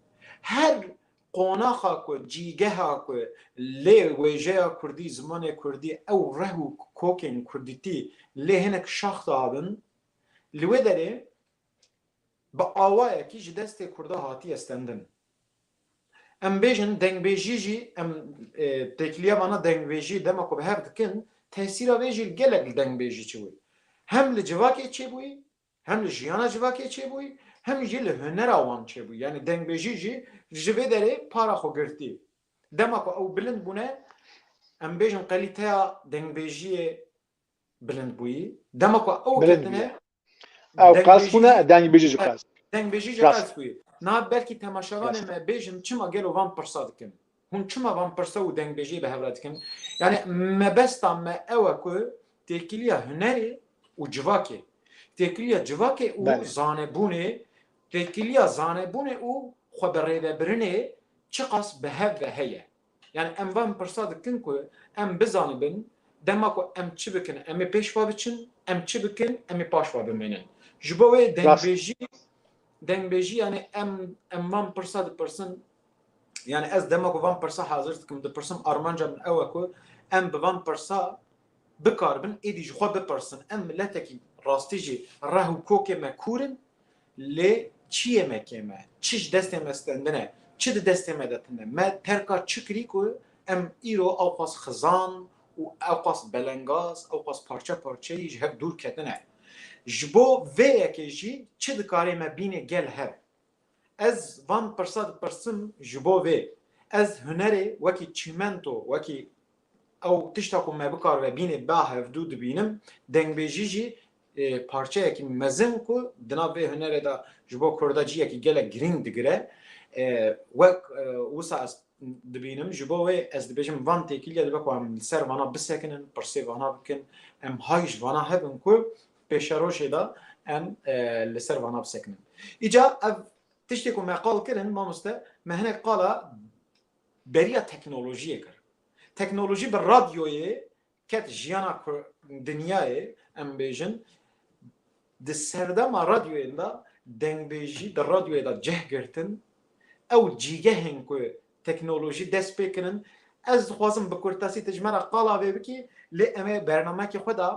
Her qonaxa ku, cîgeha ku lê wêjeya kurdî, zimanê kurdî, ew reh û kokên kurdîtî lê hinek şax dabin, li wê derê, bi awayekî ji destê Kurda hatiye stendin. Em bêjin dengbêjî jî em têkiliya vana dengbêjî dema ku bi hev dikin tesîra vê jî gelek li dengbêjî çi bûyî. Hem li civakê çê bûyî, hem li jiyana civakê çê bûyî, hem jî li hunera wan çê bûyî. Yanî dengbêjî jî ji vê derê para xwe girtî. Dema ku ew bilind bûne em bêjin qelîteya dengbêjiyê bilind bûyî. Dema ku ew ketine Ew Deng qas bêjî xûne jî- deng bêjî ji qas. Dengbêjî ji Rast. qels bûye. Niha belkî temaşevanê Rast. me bêjin çima gelo van pirsa dikin? Hûn çima van pirsa û dengbêjiyê bi hev re dikin? Yani mebesta me ew e ku têkiliya hunerê û civakê, têkiliya civakê û Belê. zanebûnê, têkiliya zanebûnê û xwe bi rêvebirinê çiqas bi hev ve heye. Yani em van pirsa dikin ku em bizanibin dema ku em çi bikin em ê pêş ve biçin, em çi bikin em ê paş ve bimînin. Ji bo wê dengbêjî dengbêjî yani em em van pirsa dipirsin yani ez dema ku van pirsa hazir dikim dipirsim armanca min ew e ku em bi van pirsa bikaribin êdî ji xwe bipirsin em miletekî rastî jî reh û kokê me kûrin Lê çiyê me kêm e, çi ji destê me stendin e, çi di destê me de tund e, me terka çi kirî ku em îro ewqas xizan û ewqas belengaz, ewqas parçe parçeyî ji hev dûr ketine. Ji bo vê yekê jî çi dikarê me bînê gel hev? Ez van pirsa dipirsim ji bo vê, ez hunerê wekî çîmento, wekî ew tişta ku me bikar ve bînê ba hevdû dibînim, dengbêjî jî parçeyekî mezin ku di nav vê hunerê de ji bo Kurda ciyekî gelek girîng digire. Wek wisa ez dibînim ji bo wê ez dibêjim van têkîlîya dibe ku em li ser vana bisekinin, pirsê vana bikin, em hay ji vana hebin ku pêşerojê de em li ser vana bisekinin. Îca ev tiştê ku me qal kirin mamoste me hinek qala beriya teknolojiyê kir. Teknolojî bi radyoyê Ket jiyana ku dinyayê em bêjin di serdema radyoyên de dengbêjî di radyoyê de cih girtin ew cîgehên ku teknolojî dest pê kirin ez dixwazim bi kurtesî tu ji me re qala vê bikî lê em ê bernamekê xwe de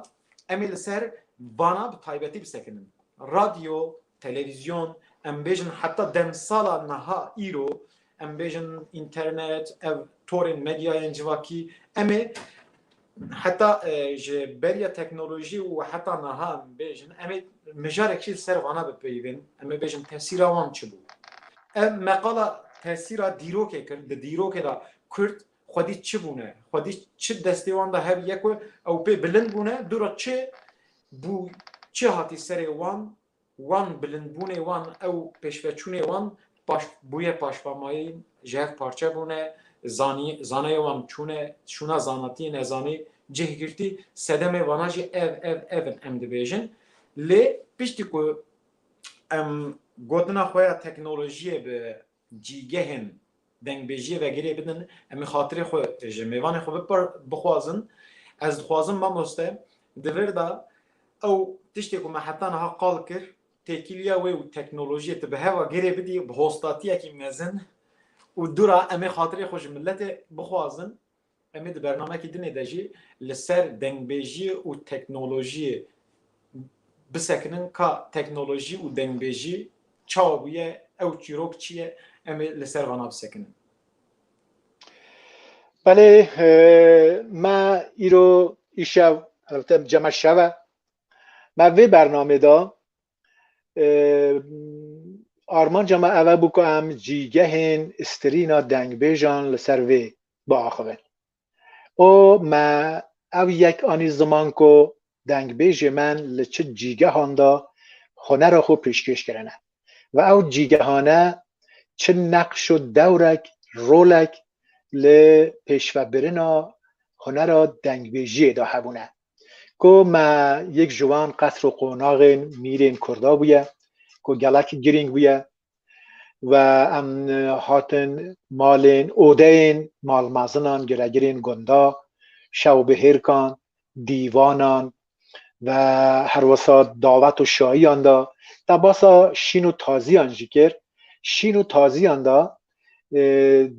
em ê li ser vana bi taybetî bisekinin. Radyo Televîzyon, em bêjin heta demsala niha îro, em bêjin înternet, ev torên medyayên civakî, em ê heta ji beriya teknolojî û heta niha em bêjin, em ê mijarek jî li ser vana bipeyivin, em ê bêjin tesîra wan çi bû. Ev meqala tesîra dîrokê kir, di dîrokê de kurd Xwedî çi bûne, xwedî çi destê wan de hebîye ku ew pê bilind bûne, dûra çi bû, çi hatî serê wan, wan bilindbûnê wan, ew pêşveçûnê wan paş bûye paşvamayîn, ji hev parçe bûne, zanî zanayê wan çûne, şûna zanatî, nezanî, cihgirtî, sedemê vana jî ev, ev, ev in em dibêjin. Lê piştî ku em gotina xwe ya teknolojiyê bi cîgehên dengbêjiyê ve girê bidin, em ê xatirê xwe ji mêvanê xwe bixwazin. Ez dixwazim mamoste di vir de ew tiştê ku me heta niha qal kir, têkiliya wê û teknolojiyê tu bi hev ve girê bidî bi hostatiyekî mezin û dûr a, em ê xatirê xwe ji miletê bixwazin. Em ê di bernamekî dinê de jî li ser dengbêjiyê û teknolojiyê bisekinin ka teknolojî û dengbêjî çawa bûye, ew çîrok çi ye, em ê li ser vana bisekinin. Belê me îro îşev helbete cema şev e. Me vê bernamê de armanca me ev e bû ku em cîgehên strîna dengbêjan li ser vê biaxivin û me ew yek anî ziman ku dengbêjê me li çi cîgehan de hunera xwe pêşkêş kirine ve ew cîgehane çi neqş û dewrek rolek li pêşvebirina hunera dengbêjiyê de hebûne. Ku me yek ji wan qesr û qonaxên mîrên Kurda bûye ku gelek girîng bûye we em hatin malên odeyên malmezinan giregirên gunda şewbihêrkan dîvanan ve herwisa davet û şayiyan de tebasa şîn û taziyan jî kir şîn û taziyan de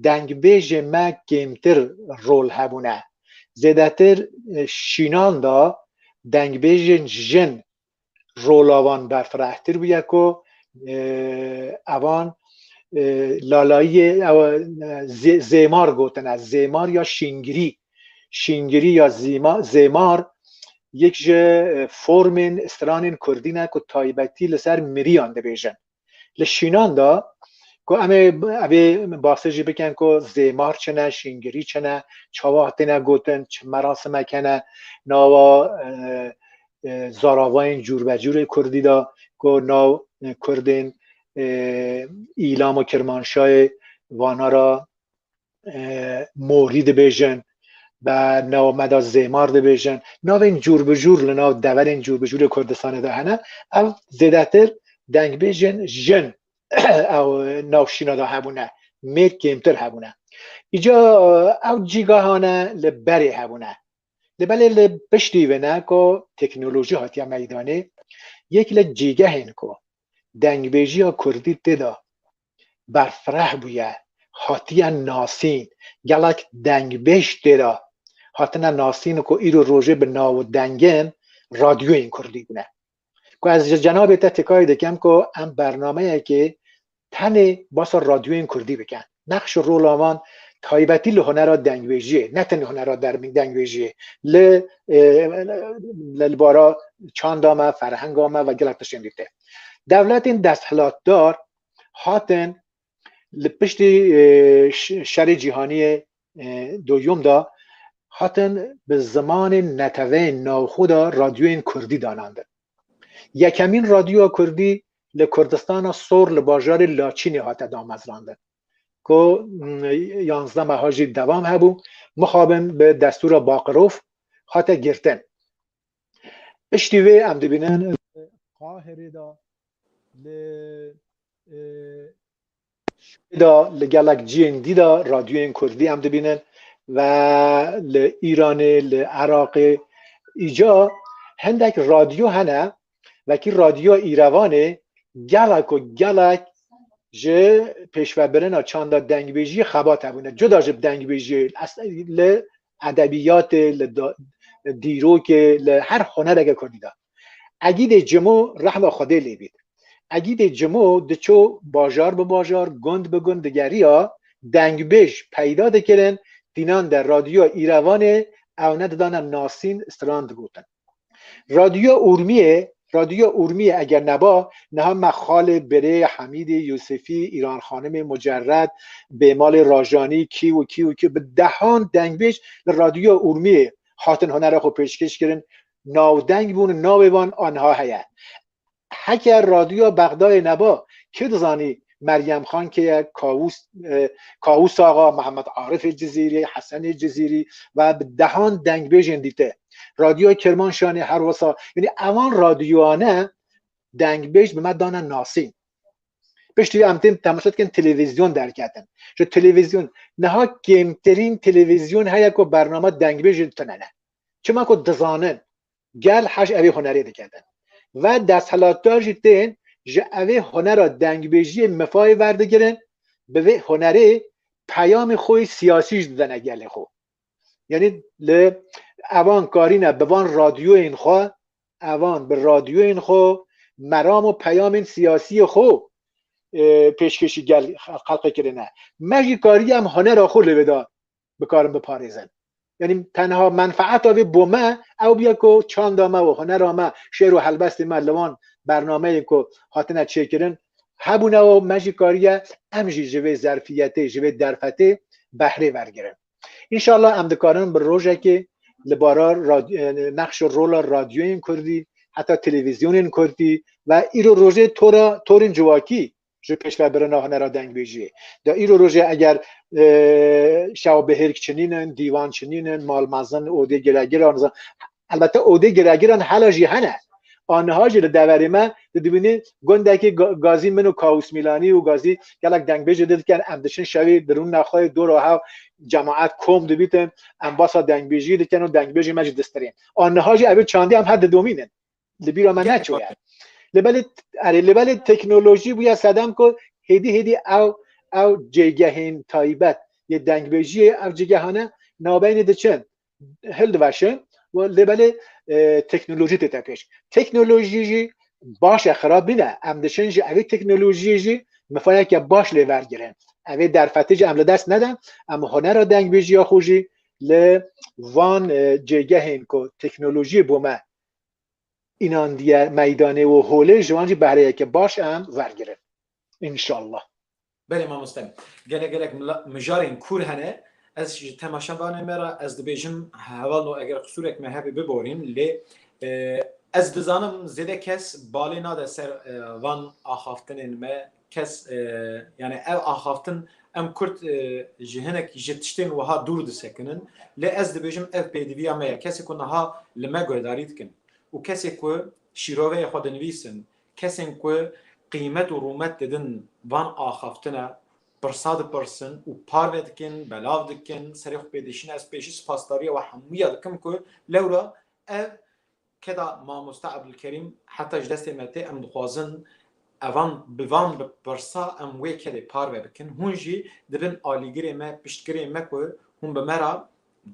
dengbêjê me kêmtir rol hebûne. Zêdetir şînan da dengbêjên jin rola wan berfirehtir bûye ku evan lalayiyê zêmar gotine zêmar ya şîngirî şîngirî ya zêmar yek ji formên stranên kurdî ne ku taybetî li ser miriyan dibêjin. Li şînan de ku em ê evê basê jî bikin ku zêmar çine, şîngirî çine, çawa hatine gotin, çi merasimek hene, nawa zaravayên cûrbecûrê Kurdî de ku nav Kurdên îlam û Kirmanşayê vana ra morî dibêjin be nawa me de zêmar dibêjin navên cûr bi cûr li nav deverên cûr bi cûrê Kurdistanê de hene ev zêdetir dengbêjên jin ew navşîna de hebûne mêr kêmtir hebûne îca ew cîgahane li berê hebûne li belê li piştî vêne ku teknolojî hatiye meydanê yek li cîgehên ku dengbêjiya Kurdî têda berfireh bûye, hatiye nasîn, gelek dengbêj tê de hatine nasîn ku îro rojê bi nav û dengên radyoyên kurdî bûne. Ku ez ji cenabê te têkayê dikim ku em bernameyekê tenê basa radyoyên kurdî bikin. Nexş û rola wan taybetî li hunera dengbêjiyê ne tenê hunera dengbêjiyê li li bara çanda me, ferhenga me ve gelek tiştên dî tê. Dewletên desthilatdar hatin li piştî şerê cîhaniyê doyûm da hatin bi zimanên neteweyên navxwe de radyoyên kurdî danandin. Yekemîn radyoya kurdî li Kurdistana Sor li bajarê Laçînê hate damezrandin. Ku yanzdeh meha jî devam hebû, mixabin bi destûra Baqirov hate girtin. Piştî vê em dibînin Qahirê de li şûnê de li gelek ciyên dî de radyoyên kurdî em dibînin ve li Îranê li Iraqê îca hindek radyo hene vekî radyoya Îrevanê gelek û gelek ji pêşvebirina çanda dengbêjiyê xebat hebûne cuda ji dengbêjiyê li edebiyatê, li dîrokê, li her hunereke kurdî de. Egîdê Cimo rehma Xwedê lê bît. Egîdê Cimo diçû bajar bi bajar, gund bi gund digeriya, dengbêj peyda dikirin, tînan de Radyoya Îrevanê ew ne didane nasîn, stran digotin. Radyoya Urmiyê Radyoya Urmiyê eger neba niha me xalê birê Hemîdê Yûsifî, Îran Xanimê Mucerred, Bêmalê Rajanî kî û kî û kî bi dehan dengbêj li Radyoya Urmiyê hatin hunera xwe pêşkêş kirin navdeng bûn û navê wan a niha heye. Heke Radyoya Bexdayê neba, kê dizanî Meryem Xan kê ye, Kawûs Kawûs Axa, Mihemed Arifê Cizîrî, Hesenê Cizîrî ve bi dehan dengbêjên dîte. Radyoya Kirmanşanê her wisa yanî evan radyoyane dengbêj bi me dane nasîn. Piştî em tên temaşe dikin televîzyon derketin. Ji televîzyon niha kêmtirîn televîzyon heye ku bername dengbêjê tune ne. Çima ku dizanin Gel hej evê hunerê dike din ve desthilatdar jî tên ji evê hunera dengbêjiyê mifayê verdigirin, bi vê hunerê peyamê xwe yê siyasî jî didene gelê xwe. Yanî li evan karîne bi van radyoyên xwe, evan bi radyoyên xwe meram û peyamên siyasiyê xwe pêşkêşî gel xelqê kirine. Me jî kariye em hunera xwe li vê de bikarin biparêzin. Yanî tenha menfeeta vê bo me ew bûye ku çanda me û hunera me, şêr û helbestê me li wan bernameyên ku hatine çêkirin hebûne û me jî kariye em jî ji vê zerfiyetê, ji vê derfetê behrê wergirin. Înşallah em dikarin bi rojekê li bara nexş û rola radyoyên kurdî heta televîzyonên kurdî ve îro rojê tora torên civakî ji pêşvebirina hunera dengbêjiyê de îro rojê eger şewbihêrk çinînin, dîwan çinînin, malmezin, odê giregiran elbette odê giregiran hela jî hene. Aniha jî li deverê me tu dibînî gundekî gazî min û Kawûs Mîlanî û gazî gelek dengbêjê dil dikin em diçin şewî di rûna xwe dora hev cemaet kom dibîtin em basa dengbêjiyê dikin û dengbêjê me jî distirên. Aniha jî ev çandî em her didomînin. Li bîra me neçûye. Li belê erê li belê teknolojî bûye sedem ku hêdî hêdî ew ew cêgehên taybet yê dengbêjiyê ev cîgehane navbeynê diçin hildiveşin û li belê e, teknolojî tête pêş. Teknolojî jî baş e xirab nîne. Em diçin ji evê teknolojiyê jî mifayeke baş lê vergirin. Evê derfetê jî em li dest neden, em hunera dengbêjiya xwe jî li van e, cêgehên ku teknolojiyê bû me înan diye meydanê û holê ji wan jî behreyeke baş em wergirin înşallah. Belê mamoste. Gelek gelek mijarên kûr hene. Ez ji temaşevanê me re ez dibêjim heval no eger qisûrek me hebe biborîn lê ez dizanim zêde kes balê nade ser van axaftinên me Kes yanî ev axaftin em kurd ji hinek ji tiştên wiha dûr disekinin. Lê ez dibêjim ev pêdiviya me ye. Kesê ku niha li me guhdarî dikin û kesê ku şîroveyê xwe dinivîsin, kesên ku qîmet û rûmet didin van axaftine, pirsa dipirsin û parve dikin, belav dikin, serê xwe pê dişînin. Ez pêşî spasdarîya we hemûya dikim ku lewra ev Keda mamoste Ebdulkerîm heta ji destê me tê em dixwazin evan bi van pirsa em wê kedê parve bikin hûn jî dibin alîgirê me piştgirê me ku hûn bi me re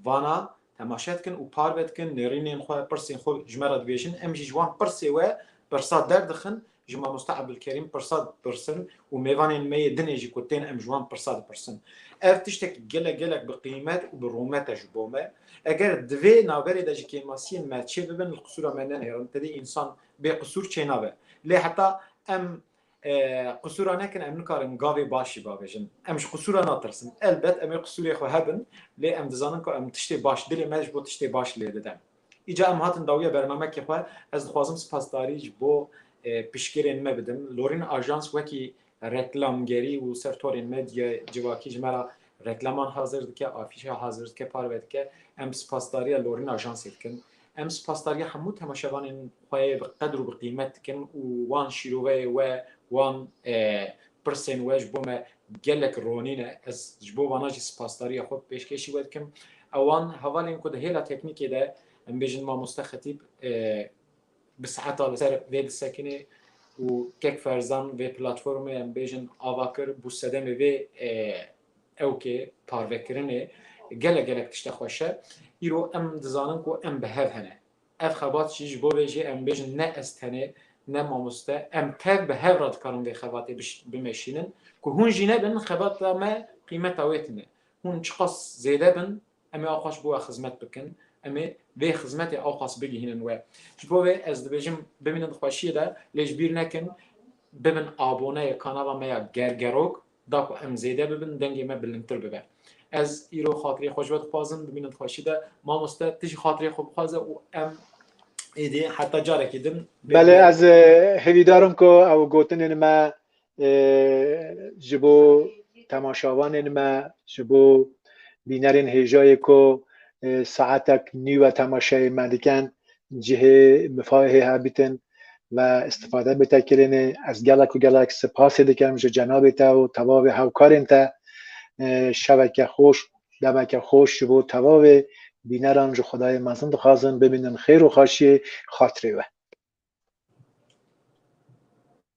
vana temaşe dikin û parve dikin nêrînên xwe pirsên xwe ji me re dibêjin em jî ji wan pirsê we pirsa derdixin ji Mamoste Ebdulkerîm pirsa dipirsin û mêvanên me yê dinê jî ku tên em ji wan pirsa dipirsin. Ev tiştek gelek gelek bi qîmet û bi rûmet e ji bo me. Eger di vê naverê de ji kêmasiyên me çêbibin li qisûra me nenêrin, tevî însan bê qisûr çênabe. Lê heta em qisûra nekin em nikarin gavê baş jî bavêjin. Em ji qisûra natirsin. Elbet em ê qisûrê xwe hebin lê em dizanin ku em tiştê baş dilê me ji bo tiştê baş lê didem. Îca em hatin dawiya bernamekê xwe, ez dixwazim spasdarî ji bo piştgirên me bidim. Lorîn Ajans wekî reklamgerî û ser torên medyayê civakî ji me re reklaman hazir dike, afîşe hazir dike, parve dike. Em spasdariya Lorîn Ajansê dikin. Em spasdariya hemû temaşevanên xwe yê bi qedir û bi qîmet dikin û wan şîroveyê we, wan pirsên we ji bo me Gelek ronîn e, ez ji bo vana jî sipasdariya xwe bi pêşkêşî we dikim. Ewan hevalên ku di hêla teknîkê de em bêjin mamoste Xetîb bi saeta li ser vê disekinê û kek ferzan vê platformê em bêjin ava kir bû sedemê vê ewkê parvekirinê gelek gelek tişte xweş e. Îro em dizanin ku em bi hev hene. Ev xebat jî ji bo vê jî em bêjin ne ez tenê ne mamoste em tev bi hev re dikarin vê xebatê bimeşînin ku hûn jî nebin xebata me qîmeta wê tune. Hûn çiqas zêde bin em ê axwaş bi we xizmet bikin, em ê vê xizmetê axwas bigihînin we. Ji bo vê ez dibêjim bimînin di xweşiyê de lê ji bîr nekin bibin aboneyê kanala me ya Gergerok. Da ku em zêde bibin, dengê me bilindtir bibe. Ez îro xatirê xwe ji we dixwazim, bimînim di xweşî de. Mamoste, tu jî xatirê xwe bixwaze û em êdî heta carekî din. Belê, ez hêvîdar im ku ew gotinên me ji bo temaşavanên me, ji bo bînerên hêjayê ku saetek nî we temaşeyê me dikin, cihê mifahê hê hebîtin me istifade bi te kirinê. Ez gelek û gelek sipasê dikim ji cenabê te û tevavê hewkarên te. Şeveke xweş, demeke xweş ji bo tevavê bîneran ji Xwedayê mezin dixwazim bimînin xêr û xaşiyê xatirê we.